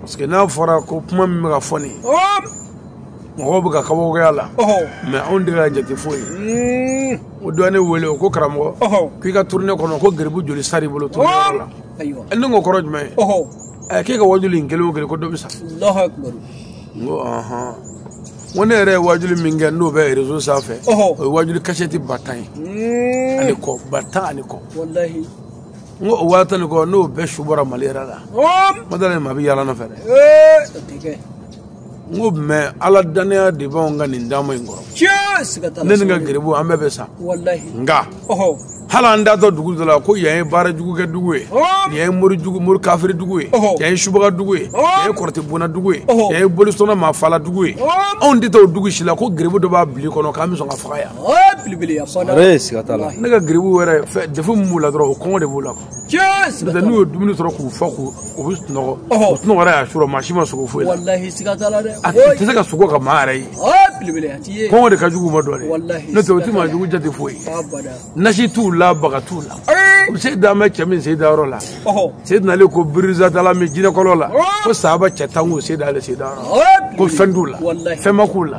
parce que n'a fɔra ko kuma min bɛ ka fɔ nin mɔgɔw bɛ ka kabakoya la mais anw tɛ k'a jate foyi ye o dɔ ne wele o ko karamɔgɔ k'i ka tournée kɔnɔ ko garibu joli sar'i bolo tournée la ne ko kɔrɔ jumɛn ye k'e ka wajuli in kelen o kelen ko dɔ bɛ sa n ko ɔhɔn ko ne yɛrɛ ye wajuli min kɛ n'o bɛ réseau sanfɛ o ye wajuli kasɛti ba tan ye ani kɔ ba tan ani kɔ n ko o waa tan ni kɔ n'o bɛɛ su bɔra mali yɛrɛ la ma dala nin ma bɛ yaala nɔfɛ dɛ n ko mɛ ala dannaya de b'anw ka nin taama in kɔrɔ ne ni n ka geribu an bɛɛ bɛ sa nka hali an taatɔ dugu dɔ la ko yan ye baara jugu kɛ dugu ye yan ye mori jugu mori kafiri dugu ye yan ye subaga dugu ye yan ye kɔrɔtɛ bonna dugu ye yan ye bolisɔnna maa fala dugu ye anw tɛ taa o dugu si la ko geribu dɔ b'a bil'i kɔnɔ k'an bɛ sɔn ka faga yan ne ka geribu wɛrɛ defu min b'u la dɔrɔn o kɔngɔ de b'u la kuwa n'u ye dumuni sɔrɔ k'u fa k'u u bɛ sunɔgɔ u sunɔgɔ yɛrɛ y'a sɔrɔ maa si ma sogo foyi la a tɛ se ka sogo ka maa yɛrɛ ye kɔngɔ de ka jugu u ma dɔɔnin n'o tɛ o tɛ maa jugu jate foyi nasi t'u la baga t'u la se dan bɛ cɛ min se da yɔrɔ la se nalen ko birizatalamin jinɛkɔlɔn la ko sahaba cɛ tan k'u se da ale se da yɔrɔ ko fɛn t'u la fɛn ma k'u la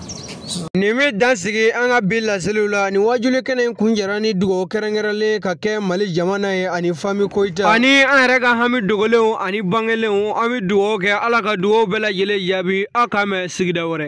Nin bɛ dan sigi an ka bi laseliw la ni waajuli kɛnɛ in kuncɛra ni dugawu kɛrɛnkɛrɛnlen ka kɛ mali jamana ye ani fami koyita ani an yɛrɛ ka hami dogolenw ani bangelenw an bɛ dugawu kɛ ala ka dugawu bɛɛ lajɛlen jaabi aw k'an mɛn sigida wɛrɛ